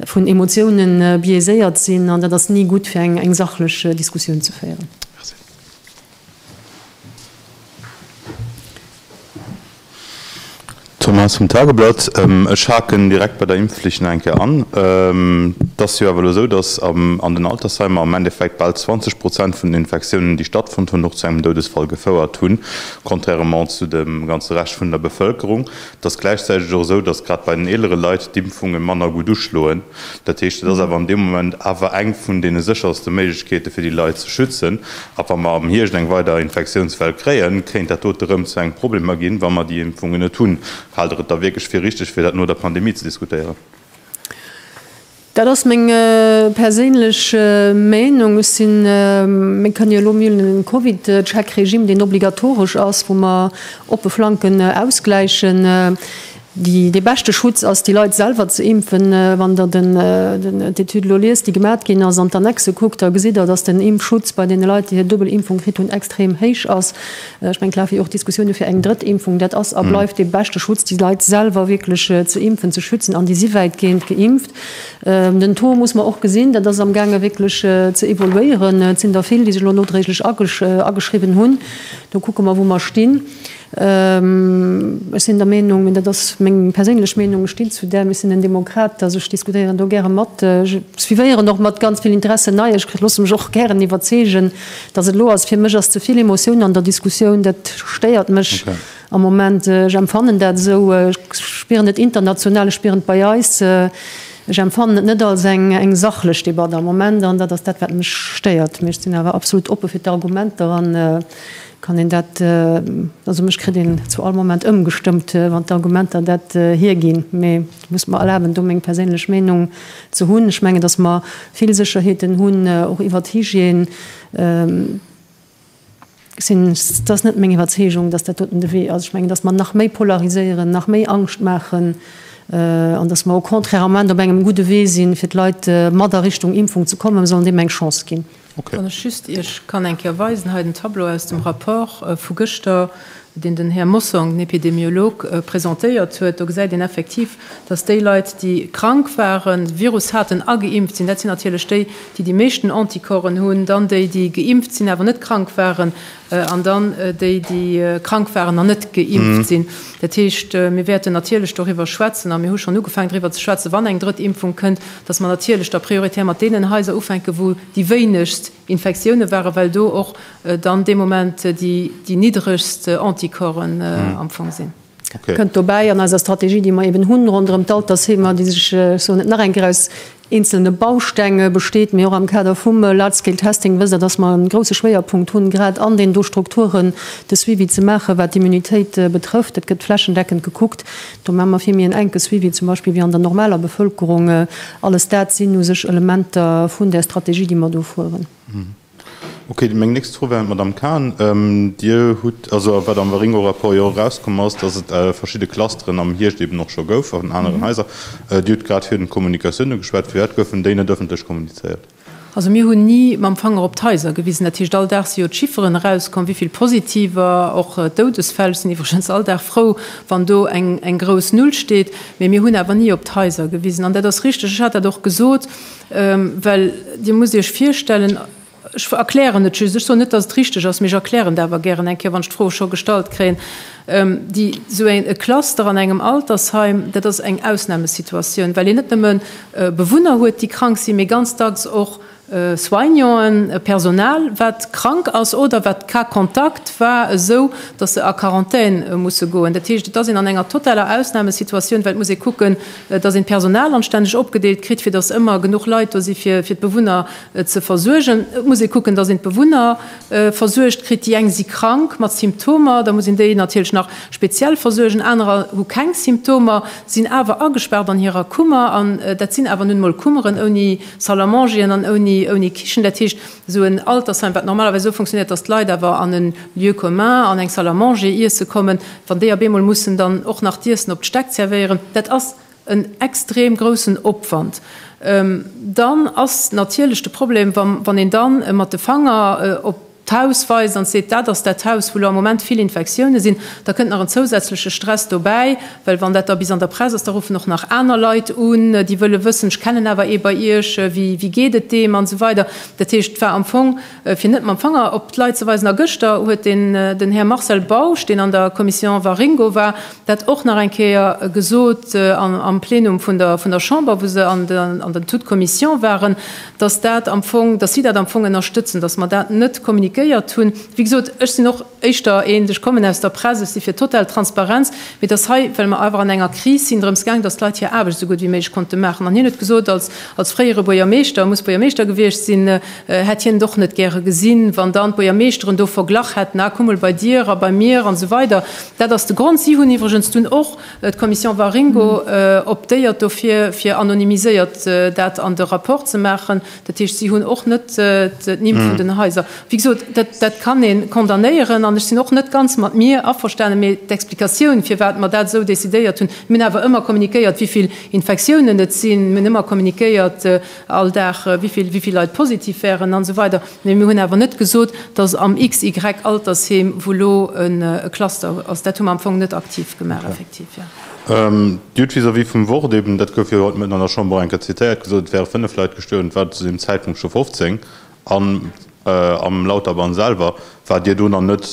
vun Emotioune biaiséiert sinn an dat ass ni gutt, fir eng sachlech Diskussioun ze féieren. Thomas vum Tageblatt, Ech haken direkt bei der Impfflicht nach eng Kéier an. Et ass jo awer elo esou, datt an den Altersheimer am Endeffekt bal 20 Prozent vun den Infektiounen, déi stattfonnt hunn, och zu engem Doudesfall gefouert hunn, contrairement zu dem ganze Rescht vun der Bevëlkerung. Et ass gläichzäiteg och esou, dass grad bei den eelere Leit d'Impfunge manner gutt uschloen. Dat heescht, et ass awer an deem Moment awer eng vun deene sécherste Méiglechkeete fir déi Leit ze schützen. A wa mer am Hierscht eng weider Infektiounswell kréien, kéint dat dote rëm zu engem Problemer ginn, wa mer déi Impfungen net hunn. Haalt Der et da wierklech fir richteg, fir dat no der Pandemie ze diskutéieren? Dat ass meng perséinlech Meinung. Ech sinn, mir kënnen jo elo mil den Covid-Check-Regime, deen obligatoresch ass, wou mer oppe Flanken ausgläichen. Déi, dee beschte Schutz ass, déi Leit selwer ze impfen. Wann Der den, d'Etüd elo liest, déi gemat ginn ass, an d'Annexe kuckt, da gesitt Der, dass den Impfschutz bei deene Leit, déi hir Dubbelimpfung kritt hunn, extrem héich ass. Ech mengen, d'Lage fir och d'Diskussioune fir eng drëtt Impfung, dat ass a bleift dee beschte Schutz, déi Leit selwer wierklech ze impfen, ze schützen, an déi si wäitgehend geimpft. Den Taux muss mer och gesinn, dat ass am gaange wierklech ze evoluéieren. Et sinn der vill, déi sech elo nodréiglech ageschriwwen hunn. Do kucke mer, wou mer stinn. Ech sinn der Meenung, an dat ass meng perséinlech Meenung, ech stinn zu där, ech sinn en Demokrat, dass ech diskutéieren do gäre mat, suivéieren och mat ganz vill Interesse Neiegkeeten, loosse mech och gären iwwerzeegen, Dass et elo ass, fir mech ass ze vill Emotiounen an der Diskussioun, dat stéiert mech am Moment. Ech empfannen dat esou, ech spieren et international, ech spieren et bei eis, ech empfannen et net als eng sachlech Debatt am Moment an dat ass dat, wat mech stéiert. Mee ech sinn awer absolut oppe fir d'Argumenter a kann een dat, also mech kritt een zu all Moment ëmgestëmmt, wann d'Argumenter dat hierginn. Et muss mer erlaben, do meng perséinlech Meinung ze hunn. Ech mengen, dass mer vill Sécherheeten hunn, och iwwert d'Hygiène. Dat ass net meng Iwwerzeegung, dass dat doten de Wee ass. Ech mengen, dass mer nach méi polariséieren, nach méi Angscht maachen an dass mer au contraire am Moment op engem gudde Wee sinn, fir d'Leit mat a Richtung Impfung ze kommen. Mer sollen deem eng Chance ginn. Wann ech just Iech kann eng Kéier weisen, hei den Tableau aus dem Rapport vu gëschter, deen den Här Mossong, den Epidemiolog, presentéiert huet, do gesäit een effektiv, dass déi Leit, déi krank waren, de Virus haten a geimpft sinn, dat sinn natierlech déi, déi déi meeschten Anticorpsen hunn, dann déi, déi geimpft sinn, awer net krank waren, An dann déi, déi krank waren an net geimpft sinn. Dat heescht, mir wäerten natierlech doriwwer schwätzen, a mir hu schonn ugefaangen doriwwer ze schwätzen, wann eng drëtt Impfung kënnt, dass mer natierlech da prioritär mat deenen Haiser ufänken, wou déi wéinegst Infektioune waren, well do och dann dee Moment déi niddregst Anticorpsen am Fong sinn. Kënnt dobäi an eiser Strategie, déi mer eben hunn ronderëm d'Altersheemer, déi sech, ech soen et nach eng Kéier, aus eenzelne Baustänge besteet, mee och am Kader vum Large-Scale Testing, wësst Der, dass mer e grouse Schwéierpunkt hunn, grad an deenen do Strukturen de Suivi ze maachen, wat d'Immunitéit betrëfft. Et gëtt flächendeckend gekuckt. Do maache mer vill méi en enke Suivi zum Beispill wéi an der normaler Bevëlkerung. Alles dat sinn u sech Elementer vun där Strategie, déi mer do fueren. Okay, meng nächst Fro wär un d'Madamm Cahen. Dir hutt, also a wat am Waringo-Rapport jo och erauskomm ass, datt et verschidde Clusteren am Hiecht eeben och scho gouf an aneren Haiser. Dir hutt grad virun Kommunikatioune geschwat. Firwat goufen déi net ëffentlech kommunizéiert? Also mir hunn ni mam Fanger op d'Haiser gewisen. Dat heescht, all Dag si jo d'Chifferen erauskomm, wéi vill Positiver, och Doudesfäll. Ech sinn iwwregens all Dag frou, wann do eng grouss Null steet. Mee mir hunn awer ni op d'Haiser gewisen. An dat ass richteg, ech hat dat och gesot, Well Dir musst Iech virstellen, ech erklären et just, ech soen net, datt et richteg ass, mee ech erklären et awer gären eng Kéier, wann ech d'Fro scho gestallt kréien, déi esou e Cluster an engem Altersheim, dat ass eng Ausnamesituatioun, well een net nëmme Bewunner huet, déi krank sinn, mee ganz dacks och Soignanten, Personal, wat krank ass oder wat Cas-Contact war, esou datt se a Quarantän musse goen. Dat heescht, et ass een an enger totaler Ausnamesituatioun, well et muss ee kucken, dass een d'Personal anstänneg opgedeelt kritt, fir dass ëmmer genuch Leit do si fir d'Bewunner ze versuergen. Et muss ee kucken, dass een d'Bewunner versuergt kritt. Déi eng si krank mat Symptomer, da muss een déi natierlech nach speziell versuergen. Anerer hu keng Symptomer, sinn awer agespaart an hirer Kummer. An dat sinn awer nun emol Kummeren ouni Salle à mangeren an ouni Kichen. Dat heescht, Esou en Altersheim, wat normalerweis esou funktionéiert, dass d'Leit awer an e Lieu commun, an eng Salle à manger iesse kommen, wann déi op eemol mussen dann och nach d'Iessen op d'Stäck zervéieren, dat ass en extrem groussen Opwand. Dann ass natierlech de Problem, wa wann een dann mat de Fanger op d'Haus weist an seet, dat ass dat Haus, wou elo am Moment vill Infektiounen sinn, da kënnt nach en zousätzleche Stress dobäi, Well wann dat da bis an der Press ass, da ruffen och nach aner Leit un, déi wëlle wëssen, ech kennen awer ee bei Iech, wéi geet et deem an esou weider. Dat heescht, et war am Fong, fir net mam Fanger op d'Leit ze weisen, a gëschter huet den, den Här Marcel Bausch, deen an der Commission Waringo war, dat och nach eng Kéier gesot am Plenum vun der, vun der Chamber, wou se an der, an der Tout-Commission waren, dass dat am Fong, dass si dat am Fong ënnerstëtzen, dass mer dat net kommuniquéiert hunn. Wéi gesot, ech sinn och. éischter eent, ech kommen aus der Press, ech si fir total Transparenz, mee dass hei, well mer awer an enger Kris sinn, drëms gaang, dass d'Leit hir Aarbecht esou gutt wéi méiglech konnte maachen. An hien huet gesot, als, als fréiere Buergermeeschter, e muss Buergermeeschter gewiescht sinn, hätt hien et och net gäre gesinn, wann dann d'Buergermeeschteren do verglach hätten, ah, kuck mol bei dir a bei mir an esou weider. Dat ass de Grond. Si hunn iwwregens dunn och, d'Commission Waringo, optéiert dofir, fir anonymiséiert dat an de Rapport ze maachen. Dat heescht, si hunn och net d'Nimm vun den Haiser. Wéi gesot, dat kann ee condamnéieren. An ech sinn och net ganz mat mir averstanen. Mee d'Explikatioun, firwat mer dat esou decidéiert hunn, mir hunn awer ëmmer kommunikéiert, wéi vill Infektiounen et sinn, mir hunn ëmmer kommunikéiert all Dag, wéi vill Leit positiv wären an esou weider. Mee mir hunn awer net gesot, dass am XY-Altersheem, wou elo e Cluster ass, dat hu mer am Fong net aktiv gemaach, effektiv. Dir hutt vis-à-vis vum Wort eben, dat gouf jo haut de Mëtten an der Chamber eng Kéier zitéiert, gesot, et wäre fënnef Leit gestuerwen. Et waren zu deem Zäitpunkt scho 15. An am Lauterbahn selwer, waart Dir do nach net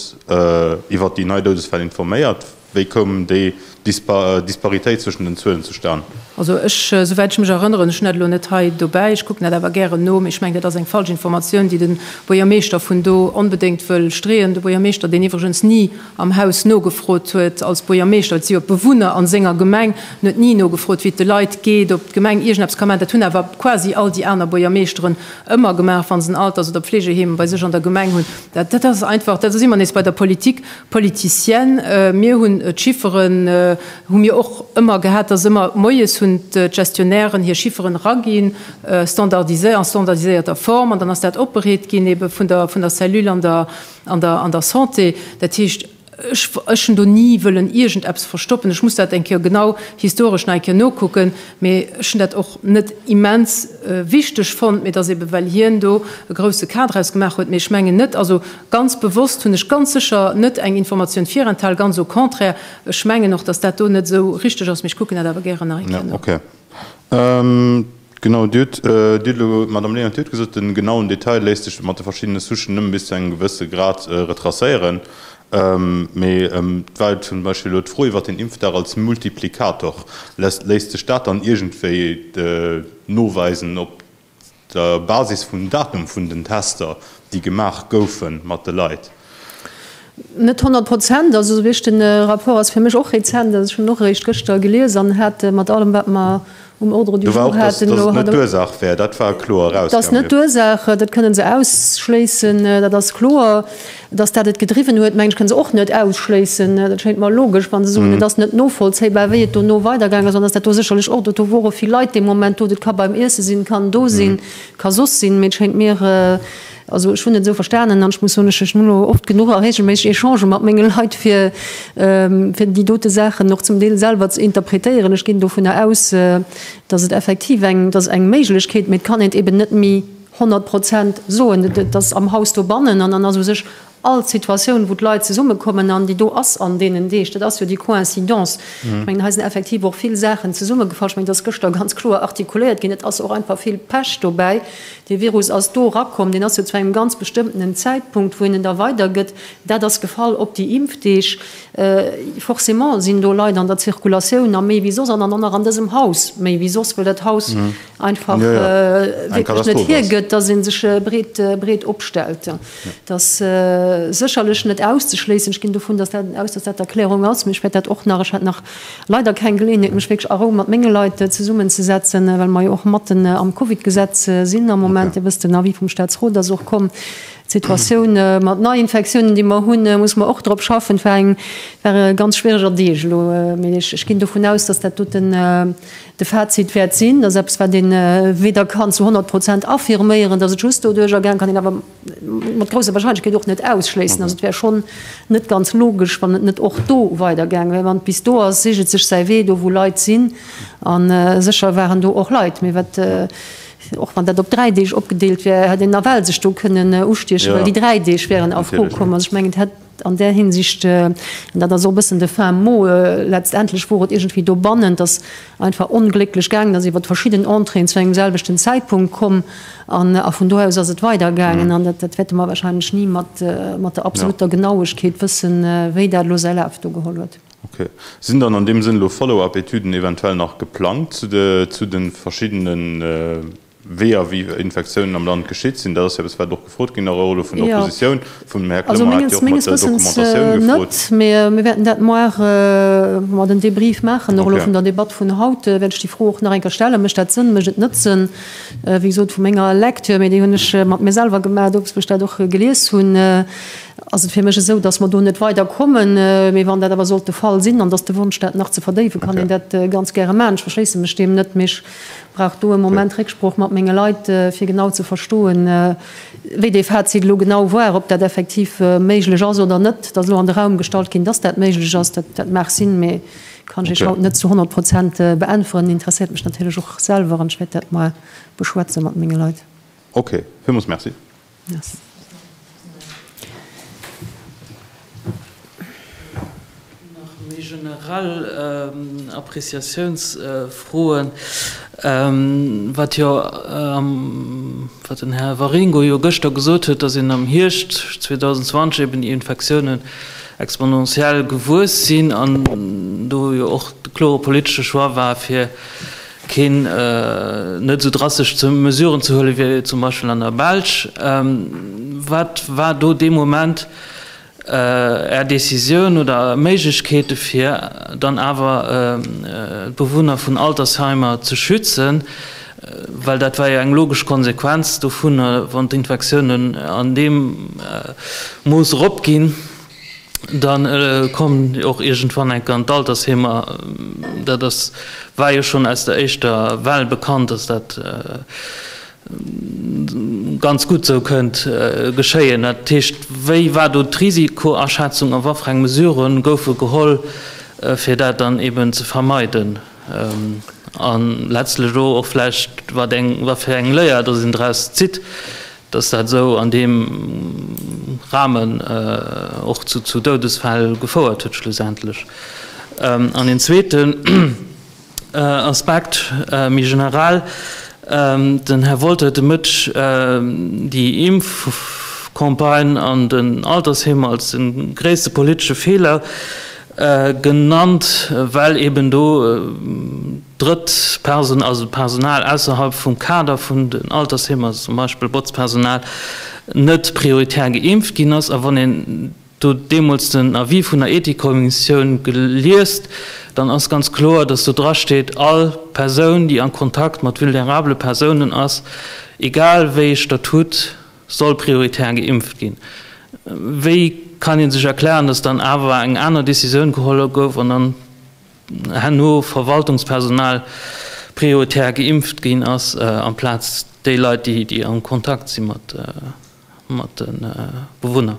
iwwert déi nei Doudesfäll informéiert? Wéi koum déi Disparitéit zwëschen den Zuelen zustan? Also ech, souwäit ech mech erënneren, ech hunn dat elo net hei dobäi, ech kucken dat awer gären no, mee ech mengen, dat ass eng falsch Informatioun, déi de Buergermeeschter vun do onbedéngt wëll streeën, de Buergermeeschter, deen iwwregens ni am Haus nogefrot huet als Buergermeeschter, et si jo d'Bewunner a senger Gemeng, en huet ni nogefrot, wéi et de Leit geet, ob d'Gemeng iergendeppes ka maachen. Dat hunn awer quasi all déi aner Buergermeeschteren ëmmer gemaach, wa se en Alters oder Pflegeheem bei sech an der Gemeng hunn. Dat, dat ass einfach, da si mer nees bei der Politik politicienne. Mir hunn d'Chifferen, hu mir och ëmmer gehat, dass ëmmer moies hunn d'Gestionnairen hir Chifferen eraginn, standardisé, a standardiséierter Form, an dann ass dat opbereet ginn ebe vun der, vun der Cellule an der, An der Santé, dat heescht, ech hunn do ni wëllen iergendeppes verstoppen. Ech muss dat eng Kéier genau historesch nach eng Kéier nokucken, mee ech hunn dat och net immens wichteg fonnt. Mee et ass eeben, well hien do e grouse Cas draus gemaach huet. Mee ech mengen net, also ganz bewosst hunn ech ganz sécher net eng Informatioun virenthal, ganz au contraire. Ech mengen och, datt dat do net esou richteg ass, mee ech kucken dat awer gären nach eng Kéier no. Genau, Dir hutt elo, Madame Lehnen, Dir hutt gesot, de genauen Detail léisst sech mat de verschiddene Souchen nëmme bis zu engem gewësse Grad retracéieren. Mee et war zum Beispill elo d'Fro iwwert den Impfdag als Multiplikator. Léisst sech dat dann iergendwéi noweisen op der Basis vum Datum vun den Tester, déi gemaach goufe mat de Leit? Net honnert Prozent. Also esou richt, den Rapport ass fir mech och rezent, also ech hunn en och eréischt gëschter gelies an hat mat allem wat mer um Ordre du jour haten, do war och, dass et net d'Ursaach wär, dat war kloer erausgaangen. Dass net d'Ursaach, dat kënnen se ausschléissen, dat ass kloer. Dass dat et gedriwwen huet, mengen ech, kënnen se och net ausschléissen. Dat schéint mer logesch, wa se soen, et ass net novollzéibar, wéi et dono weidergaangen ass an dass dat do sécherlech och, do wore vill Leit dee Moment do, dat ka beim Iesse sinn, kann do sinn, ka soss sinn, mee et schéint mir, Also ech hunn et esou verstanen, an ech muss soen, ech ech hunn elo oft genuch a reegelméisseg Echangen mat menge Leit, fir fir déi dote Saachen och zum Deel selwer ze interpretéieren. Ech ginn dovunner aus, datt et effektiv eng, datt eng Méiglechkeet, mee et kann een et eeben net méi honnert Prozent soen. Et ass am Haus dobannen an dann ass u sech All Situatioun, wou d'Leit zesummekommen, an déi do ass an deenen Deeg, dat ass jo déi Coïncidence. Ech mengen, hei sinn effektiv och vill Saachen zesummegefall. Ech mengen, et ass gëschter ganz kloer artikuléiert ginn, et ass och einfach vill Pech dobäi. Dee Virus ass do erakomm, deen ass jo zu engem ganz bestëmmtenen Zäitpunkt, wou een en da weidergëtt. Dat ass gefall op déi Impfdeeg. Forcément sinn do Leit an der Zirkulatioun a méi wéi soss an an an dësem Haus méi wéi soss, wëll dat Haus einfach wierklech net hiergëtt, dass ee sech breet, breet opstellt. Et ass sécherlech net auszeschléissen, ech ginn dovun aus, dass dat d'Erklärung ass, mee ech wäert dat och nach, ech hat nach leider keng Geleeënheet, mech wierklech a Rou mat menge Leit zesummenzesetzen, well mer jo och matten am Covid-Gesetz sinn am Moment. Dir wësst, den Avis vum Statsrot ass och komm. D'Situatioun mat Neiinfektiounen, déi mer hunn, muss mer och drop schaffen. Et war e ganz schwiereger Deeg elo, mee ech ginn dovun aus, dass dat doten, De Fazit wäert sinn, dass eppes, wat ee weder kann zu honnert Prozent affirméieren, dass et just doduerch erging, kann een awer mat grousser Wahrscheinlechkeet och net ausschléissen, dass et wär schonn net ganz logesch, wann et net och do weiderging wär. Wann et bis do ass, seegt et sech säi Wee do, wou Leit sinn. A sécher waren do och Leit. Mee wat, och wann dat op dräi Deeg opgedeelt wär, hätt een nawell sech do kënnen ustiechen, well déi dräi Deeg wäeren a Fro komm. Also ech mengen, et hätt. An där Hinsicht, an dat ass och e bëssen de fin mot, letztendlech wor et iergendwéi dobannen, dass einfach onglécklech gaangen ass, iwwert verschidden Entréeën zu engem selwechten Zäitpunkt komm, an a vun do aus ass et weidergaangen. An dat wäerte mer wahrscheinlech ni mat der absoluter Genauegkeet wëssen, wéi dat elo säi Laf do geholl huet. Okay. Sinn dann an deem Sënn elo Follow-up-Etüden eventuell nach geplangt zu de verschiddene. Wéi a wie Infektiounen am Land geschitt sinn, dat ass jo eppes, wat och gefrot ginn awer och elo vun der Oppositioun. Vum Här Clement hat jo och mat der Dokumentatioun gefrot. Also menges Wëssens net, mä mir wäerten dat moar, ma den Debrief maachen. Nach elo vun der Debatt vun haut wäert ech déi Fro och nach eng Kéier stellen. Mécht dat Sënn, mécht et net Sënn? Wéi gesot, vu menger Lektür, mä déi hunn ech mat mir selwer gemaach, dowéinst wou ech dat och gelies hunn, ass et fir mech esou, datt mer do net weiderkommen. Mä wann dat awer sollt de Fall sinn an datt de Wonsch dat nach ze verdéiwen, kann een dat ganz gäre maachen. Ech verschléisse mech deem net. Brauch do e Moment Récksprooch mat menge Leit, fir genau ze verstoen, wéi dee Fazit elo genau war, ob dat effektiv méiglech ass oder net. Et ass elo an de Raum gestallt ginn, dass dat méiglech ass. Dat mag sinn, mee kann ech Iech haut net zu 100 Prozent beäntweren. Interesséiert mech natierlech och selwer an ech wäert dat mol beschwätze mat menge Leit. Okay, villmools Merci. Merci. Nach méi generell Appreciatiounsfroen, wat jo, wat den Här Waringo jo gëschter gesot huet, dass een am Hierscht 2020 eben déi Infektiounen exponentiell gewuess sinn an do jo och de klore politesche Choix war, fir keen net esou drasteg Mesuren ze huelen, wéi zum Beispill an der Belsch. Wat war do dee Moment Är Décisioun oder Méiglechkeete fir dann awer d'Bewunner vun Altersheimer ze schützen, well dat war jo eng logesch Konsequenz dovunner, wann d'Infektiounen an deem Mooss eropginn? Dann kommen déi och iergendwann enke an d'Altersheemer. Dat ass, war jo schonn aus der éischter Well bekannt, dass dat ganz gutt esou kënnt geschéien. Dat heescht, wéi war do d'Risikoaschätzung a watfereng Mesurë goufe geholl, fir dat dann eben ze vermeiden? A letztlech elo och vläicht, watfir eng Léier dass een draus zitt. dass dat esou an deem Rahmen och zu Doudesfäll gefouert huet schlussendlech. An een zweeten Aspekt méi generell, Den Här Wolter huet de Mëtt déi Impfcampagne an den Altersheem als de gréisste politesche Feeler Genannt, well eben do drëtt Perso also Personal ausserhalb vum Kader vun den Altersheemer, also zum Beispill Botzpersonal, net prioritär geimpft ginn ass. A wann een do deemools den Avis vun der Ethikkommissioun liest, dann ass ganz kloer, dass do drasteet, All Persoun, déi a Kontakt mat vulnerabele Persounen ass, egal wéi ee Statut Soll prioritär geimpft ginn? Wéi kann ee sech erklären, datt dann awer eng aner Decisioun geholl gouf an dann herno Verwaltungspersonal prioritär geimpft ginn ass amplaz déi Leit, déi am Kontakt si mat de Bewunner?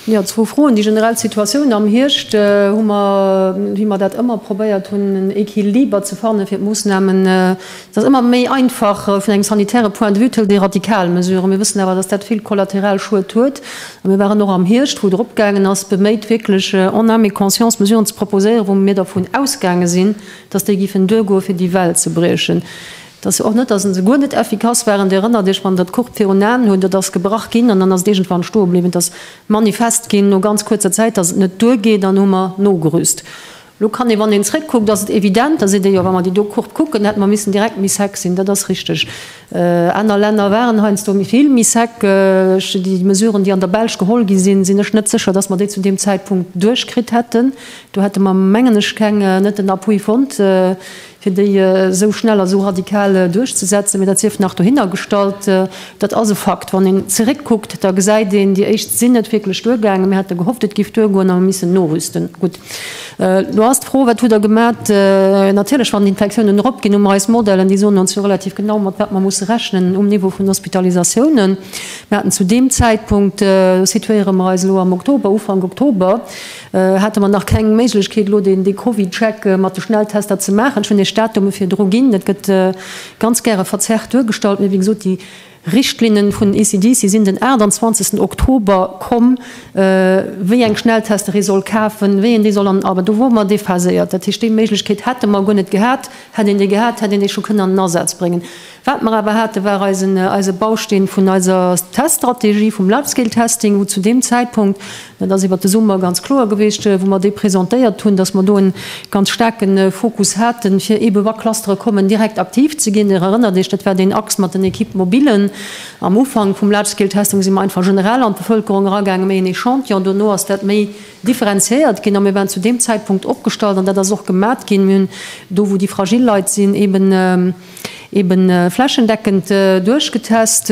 Jo, zwou Froen. Déi generell Situatioun am Hierscht hu mer, wéi mer dat ëmmer probéiert hunn, en Equiliber ze fanne fir d'Moossnamen. Et ass ëmmer méi einfach vun engem sanitäre Point de vue, et hëlt ee radikal Mesuren. Mir wëssen awer, datt dat vill kollateral Schued huet. A mir waren och am Hierscht, wou et erop gaangen ass, beméit wierklech en âme et conscience Mesuren ze proposéieren, wou mir dervun ausgaange sinn, datt déi giffen duergoe fir déi Well ze briechen. Et ass jo och net, dass en se guer net effikass waren. Dir erënnert Iech, wann der d'Courbe virun Aen hutt, et ass gebrach ginn an dann ass et iergendwann stoe bliwwen. Et ass manifest ginn no ganz kuerzer Zäit, dass et net duergeet an hu mer nogerüst. Elo kann ee, wann een zrëckkuckt, ass et evident, dass ee déi och, wa mer déi do Courbe kucken, hätte mer missen direkt méi sec sinn. Dat ass richteg. Aner Länner waren heiansdo méi vill méi sec. Ech, déi Mesuren, déi an der Belsch geholl gi sinn, sinn ech net sécher, dass mer déi zu deem Zäitpunkt duerchkritt hätten. Do hätte mer, mengen ech, keng, net den Appui fonnt. fir déi esou schnell a esou radikal duerchzesetzen, mee dat sief nach dohinner gestallt. Dat ass e Fakt. Wann een zeréckkuckt, da gesäit een, déi éischt sinn net wierklech duergaangen. Mir hate gehofft, et géif duergoen a mir missen norüsten. Gutt, elo ass d'Fro, Wat hutt Der gemat? Natierlech, wann d'Infektiounen eropginn, hu mer eis Modellen, déi soen ons jo relativ genau, mat wat mer musse rechnen um Niveau vun Hospitalisatiounen. Mir haten zu deem Zäitpunkt, do situéiere mer eis elo am Oktober, Ufank Oktober, Hate mer nach keng Méiglechkeet elo deen Covid-Check mat de Schnelltester ze maachen. Ech hunn Iech d'Datume virdru ginn. Et gëtt ganz gäre verzerrt duergestallt, mee wéi gesot, déi Richtlinne vun ECDC sinn den 28 Oktober komm, wéi eng Schnelltester ee soll kafen, wéi een déi soll an. Awer do wore mer déphaséiert. Dat heescht, déi Méiglechkeet hätte mer guer net gehat. Hätt een déi gehat, hätt een déi scho kënnen an den Asaz bréngen. Wat mer awer haten, war eisen, eise Bausteen vun eiser Teststrategie, vum Large-Scale-Testing, wou zu deem Zäitpunkt, dat ass iwwert de Summer ganz kloer gewiescht, wou mer dee presentéiert hunn, dass mer do e ganz staarke Fokus haten, fir eebe wa Clustere kommen, direkt aktiv ze ginn. Dir erënnert Iech, dat war deen Axe mat den Equipes mobiles. Am Ufank vum Large-Scale-Testing si mer einfach generell an d'Bevëlkerung eragaangen, méi en Echantillon. Dono ass dat méi differenziéiert ginn a mir waren zu deem Zäitpunkt opgestallt, an dat ass och gemat ginn, mir hunn do, wou déi fragil Leit sinn, eeben, eben flächendeckend duerchgetest,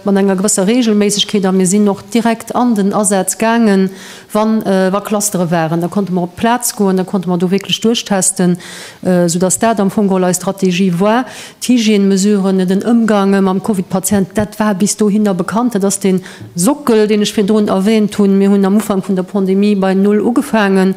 mat enger gewësser Regelméissegkeet, a mir sinn och direkt an den Asaz gaangen, wa wa Clustere waren. Da konnte mer op d'Plaz goen, da konnte mer do wierklech duerchtesten, soudass dat am Fong geholl eis Strategie war. D'Hygiènemesuren, den Ëmgang mam Covid-Patient, dat war bis dohinner bekannt. Dat ass dee Sockel, deen ech virdrun erwähnt hunn. Mir hunn am Ufank vun der Pandemie bei Null ugefaangen.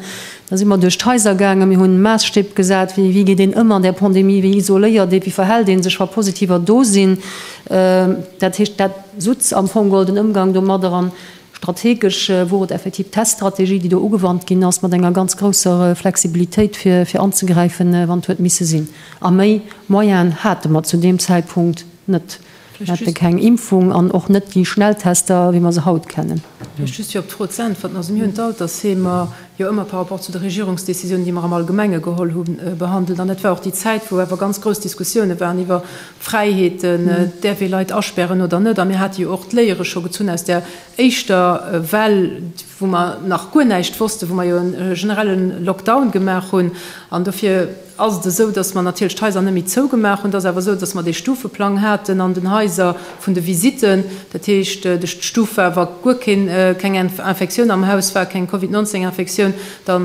Da si mer duerch d'Haiser gaangen, mir hunn Maasstipp gesat, wéi wéi geet een ëm an der Pandemie, wéi isoléiert ee, wéi verhält ee sech wa Positiver do sinn. Dat heescht dat sutz am Fong golden Ëmgang domadder an strategesch wor et effektiv d'Teststrategie déi do ugewannt ginn ass mat enger ganz grousser Flexibilitéit fir fir anzegräifen wann et huet misse sinn. A méi Moyen hate mer zu deem Zäitpunkt net. Mir hätte keng Impfung an och net déi Schnelltester, wéi mer se haut kennen. Vläicht just fir op d'Fro ze äntwerten. Also mir hunn d'Altersheemer jo ëmmer par rapport zu de Regierungsdécisionen, déi mer am Allgemenge geholl hunn, behandelt. An dat war och déi Zäit, wou awer ganz grouss Diskussioune waren iwwer d'Fräiheeten, däerf ee Leit aspären oder net. A mir hate jo och d'Léiere scho gezunn aus där éischter Well, wou mer nach guer näischt wossten, wou mer jo e generelle Lockdown gemaach hunn. An dofir. ass et esou, dass mer natierlech d'Haiser net méi zougemaach hunn. Et ass awer esou, dass mer dee Stufeplang haten an den Haiser vun de Visitten. Dat heescht, d'Stuf war, wa guer keng Infektioun am Haus war, keng Covid 19 Infektioun, da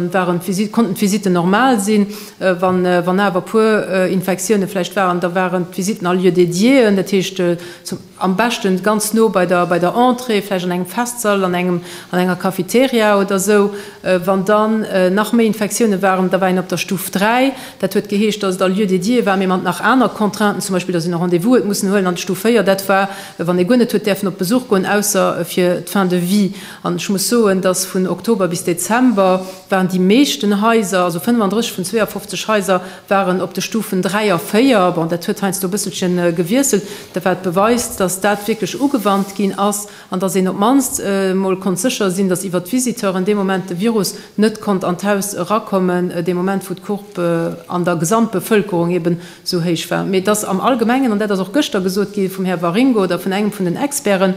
konnten d'Visitten normal sinn. Wann awer e puer Infektioune vläicht waren, da waren d'Visitten a Lieu dédiéen, dat heescht zum. Am beschten ganz no bei der bei der Entrée, vläicht an engem Festsall, an engem an enger Cafeteria oder esou. Wann dann nach méi Infektiounen waren, da war een op der Stuf 3. Dat huet geheescht, dass et a Lieu dédié war, mee mat nach aner Contrainten, zum Beispill dass een e Rendez-vous huet mussen huelen. An d'Stuf 4, dat war wann ee guer net huet däerfen op Besuch goen, ausser fir d'Fin de vie. An ech muss soen, dass vun Oktober bis Dezember waren déi meeschten Haiser, also 35 vun 52 Haiser, waren op de Stufen 3 a 4, bon dat huet heiansdo e bësselchen gewiesselt, dat wat beweist, dass dat wierklech ugewannt ginn ass an dass een op d'mannst mol konnt sécher sinn, dass iwwert d'Visiteuren dee Moment de Virus net konnt an d'Haus erakommen, dee Moment wou d'Courbe an der Gesamtbevëlkerung eben sou héich war. Mee dass am Allgemengen, an dat ass och gëschter gesot gi vum Här Waringo oder vun engem vun den Experten,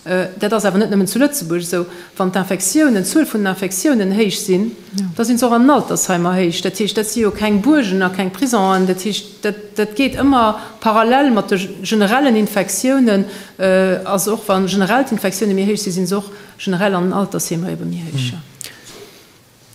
Dat ass awer net nëmmen zu Lëtzebuerg esou. Wann d'Infektiounen, d'Zuel vun den Infektiounen héich sinn, da sinn se och an den Altersheimer héich. Dat heescht, dat si jo keng Buergen a keng Prisonen. Dat heescht, dat geet ëmmer parallel mat de generellen Infektiounen. Also och wa generell d'Infektiounen méi héich sinn, si se och generell an den Altersheemer ebe méi héich.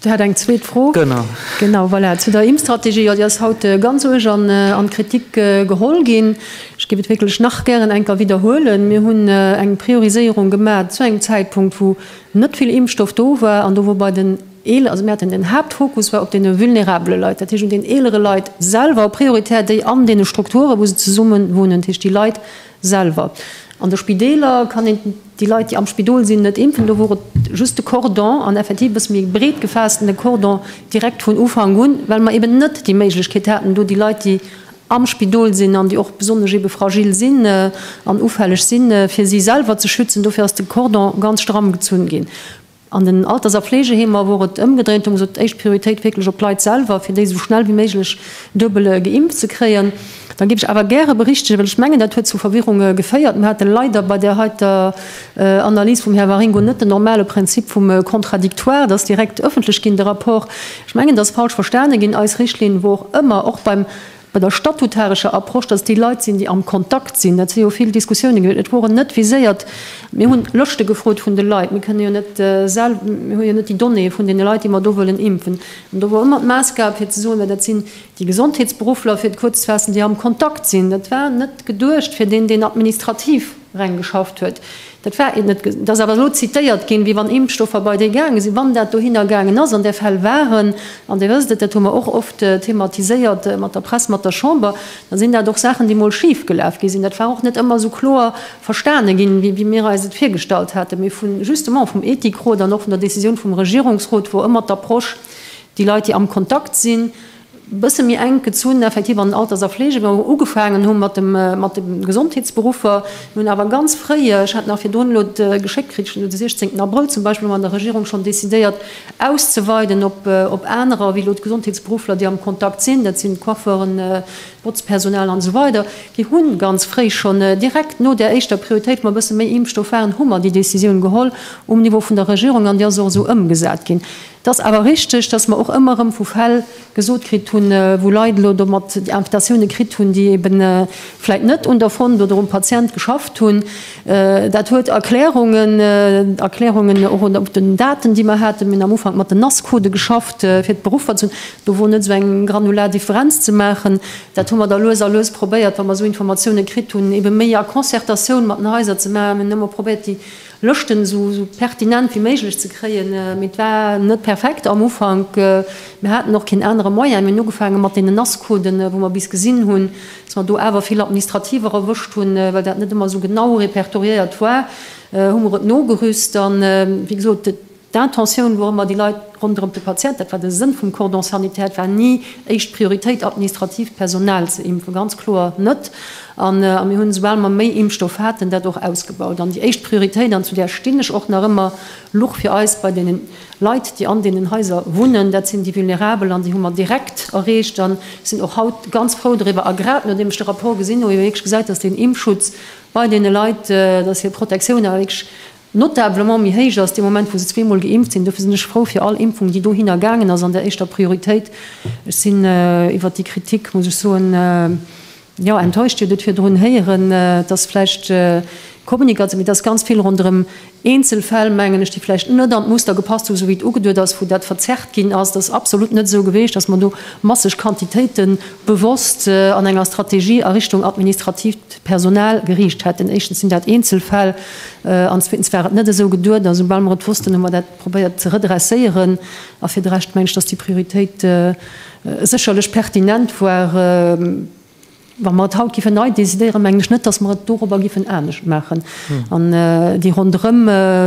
Dir hat eng zweet Fro. Genau. Genau, voilà. Zu der Impfstrategie, jo, déi ass haut ganz uerg an d'Kritik geholl ginn. Ech géif et wierklech nach gären eng Kéier widderhuelen, Mir hunn eng Prioriséierung gemaach zu engem Zäitpunkt, wou net vill Impfstoff do war an do wou bei den Eeleren, also mir haten den Haaptfokus war op deene vulnerabele Leit, dat heescht un den eelere Leit selwer, prioritär déi an deene Strukturen, wou se zesummen wunnen, dat heescht déi Leit, Selwer. An de Spideeler kann een déi Leit, déi am Spidol sinn, net impfen. Do wor et just de Cordon, an effektiv e bësse méi breet gefaassten, de Cordon direkt vun Ufank un, well mer eben net déi Méiglechkeet haten, do déi Leit, déi am Spidol sinn an déi och besonnesch ebe fragil sinn an ufälleg sinn, fir si selwer ze schützen. Dofir ass de Cordon ganz stramm gezunn ginn. An den Alters a Fleegeheemer wor et ëmgedréint, do gesot, éischt Prioritéit wierklech op d'Leit selwer, fir déi esou schnell wéi méiglech duebel geimpft ze kréien. Da géif ech awer gäre berichtegen, well ech mengen, dat huet zu Verwirrung geféiert, Mir hate leider bei där heiter Analys vum Här Waringo net den normale Prinzip vum Contradictoire, dass direkt ëffentlech ginn de Rapport. Ech mengen, dat ass falsch verstane ginn. Eis Richtlinn wor ëmmer, och beim, Bei der statutarescher Approche, dass et déi Leit sinn, déi am Kontakt sinn, dat si jo vill Diskussiounen ginn huet. Et woren net viséiert, mir hunn Lëschte gefrot vun de Leit, mir kënnen jo net sel, mir hu jo net déi Donnéeë vun deene Leit, déi mer do wëllen impfen. An do wor ëmmer d'Maßgab fir ze soen, well dat sinn déi Gesondheetsberuffler, fir et kuerz ze faassen, déi am Kontakt sinn. Dat war net geduecht fir deen, deen administrativ. Reng geschafft huet. Dat war et net. Et ass awer elo zitéiert ginn, wéi wann Impfstoffer bei déi gaange sinn. Wann dat dohinner gaangen ass, an där Fäll waren, an Dir wësst et, dat hu mer och oft thematiséiert mat der Press, mat der Chamber, da sinn dat och Saachen, déi emol schif gelaf gi sinn. Dat war och net ëmmer esou kloer verstane ginn, wéi mir eis et virgestallt haten. Mee vu justement vum Ethikrot an och vun der Décisioun vum Regierungsrot, wou ëmmer d'Approche, déi Leit, déi am Kontakt sinn, bësse méi enk gezunn effektiv an den Alters a Fleegeberuff ugefaangen hu mat dem mat de Gesondheetsberuffer. Mir hunn awer ganz fréi, ech hat nach virdrun elo et geschéckt kritt, schonn de 16 Abrëll zum Beispill, hu mer an der Regierung schonn decidéiert auszeweiden op op anerer wéi elo d'Gesondheetsberuffler déi am Kontakt sinn, dat sinn d'Coiffeuren, d'Botzpersonal an esou weider, déi hu ganz fréi schonn direkt no där éischter Prioritéit, wou mer bësse méi Impfstoff waren, hu mer déi Décisioun geholl um Niveau vun der Regierung an déi ass och esou ëmgesat ginn. Et ass awer richteg, dass mer och ëmmer erëm vu Fäll gesot kritt hunn, wou Leit elo domat Invitatioune kritt hunn, déi eebe vläit net un der Fond oder um Patient geschafft hunn. Dat huet Erklärungen, Erklärungen och op den Daten, déi mer haten. Mir hunn am Ufank mat den Nascodë geschafft, fir d'Beruffer ze hunn. Do wor net esou eng granular Differenz ze maachen. Dat hu mer da lues a lues probéiert, wa mer esou Informatioune kritt hunn, eebe méi a Concertatioun mat den Haiser ze maachen. Mir hunn ëmmer probéiert, déi Lëschten esou pertinent wéi méiglech ze kréien. Mee et war net perfekt am Ufank. Mir haten och keen anere Moyen. Mir hunn ugefaange mat deenen Nasscoden, wou mer bis gesinn hunn, dass mer do awer vill Administrativer erwëscht hunn, well dat net ëmmer esou genau repertoriéiert war, hu mer et nogerüst. An, wéi gesot, D'Intentioun wor ëmmer, déi Leit ronderëm de Patient, dat war de Sënn vum Cordon sanitaire, et war ni éischt Prioritéit, administratiivt Personal ze impfen, ganz kloer net. A mir hunn, esoubal mer méi Impfstoff haten, dat och ausgebaut. An déi éischt Prioritéit, an zu där stinn ech och nach ëmmer, luch fir eis bei deene Leit, déi an deenen Haiser wunnen. Dat sinn déi Vulnerabel an déi hu mer direkt erreecht an sinn och haut ganz frou doriwwer. A grad nodeem ech de Rapport gesinn hu, wou ee wierklech gesäit, dass deen Impfschutz bei deene Leit, dass hir Protektioun awer wierklech, notablement méi héich ass dee Moment, wou se zweemol geimpft sinn. Dofir sinn ech frou fir all Impfung, déi dohinner gaangen ass an der éischter Prioritéit. Ech sinn iwwert déi Kritik, muss ech soen, jo, enttäuscht. Dir hutt et virdrun héieren, et ass vläicht d'Kommunikatioun, mee et ass ganz vill ronderëm Eenzelfäll, mengen ech, déi vläicht net an d'Muster gepasst hu, esou wéi et ugeduet ass, wou dat verzerrt ginn ass. Et ass absolut net esou geweecht, datt mer do masseg Quantitéite bewosst an enger Strategie a Richtung administratiivt D'Personal geriicht hätten. Éischtens sinn dat Eenzelfäll an zweetens war et net esou geduet. A soubal mer et wossten, hu mer dat probéiert ze redresséieren. A fir de Rescht mengen ech, dass déi Prioritéit sécherlech pertinent war. Wa mer et haut géifen nei decidéieren, mengen ech net, dass mer et dorobber géifen anescht maachen. An déi ronderëm,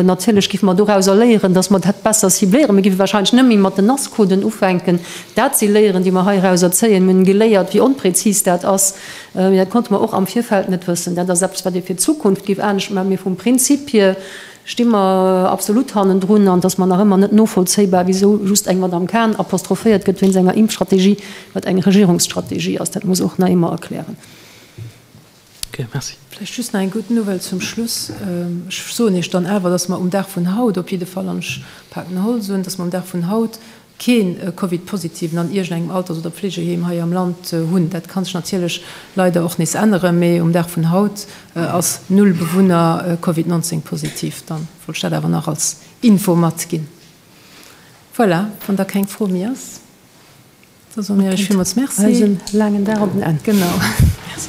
natierlech géife mer dorauser léieren, dass mer dat besser cibléieren. Mir géife warscheinlech net méi mat den Nascoden ufänken. Dat si Léieren, déi mer heirauser zéien. Mir hunn geléiert, wéi onprezis dat ass. Mee dat konnte mer och am Virfeld net wëssen. Dat ass eppes, wat ee fir d'Zukunft géif anescht maachen. Mee vum Prinzip hir sti mer absolut hannendrun. An et ass mer nach ëmmer net novollzéibar, wisou just eng Madame Cahen apostrophéiert gëtt wéinst enger Impfstrategie, wat eng Regierungsstrategie ass. Dat muss och nach ee mer erklären. Okay, merci. Vläicht just nach eng gutt Nouvelle zum Schluss. Ech soen Iech dann awer, dass mer um Dag vun haut op jidde Fall, an ech paken Holz un, dass mer um Dag vun haut, keen Covid-Positiven an iergend engem Alters oder Pflegeheem hei am Land hunn. Dat ka sech natierlech leider och nees änneren, mee um Dag vun haut ass null Bewunner Covid 19 positiv. Dann wollt ech dat awer nach als Info matginn. Voilà, wann da keng Fro méi ass, da soe mir iech villmools Merci. Eisen laangen Dag op en Enn. Genau. Merci.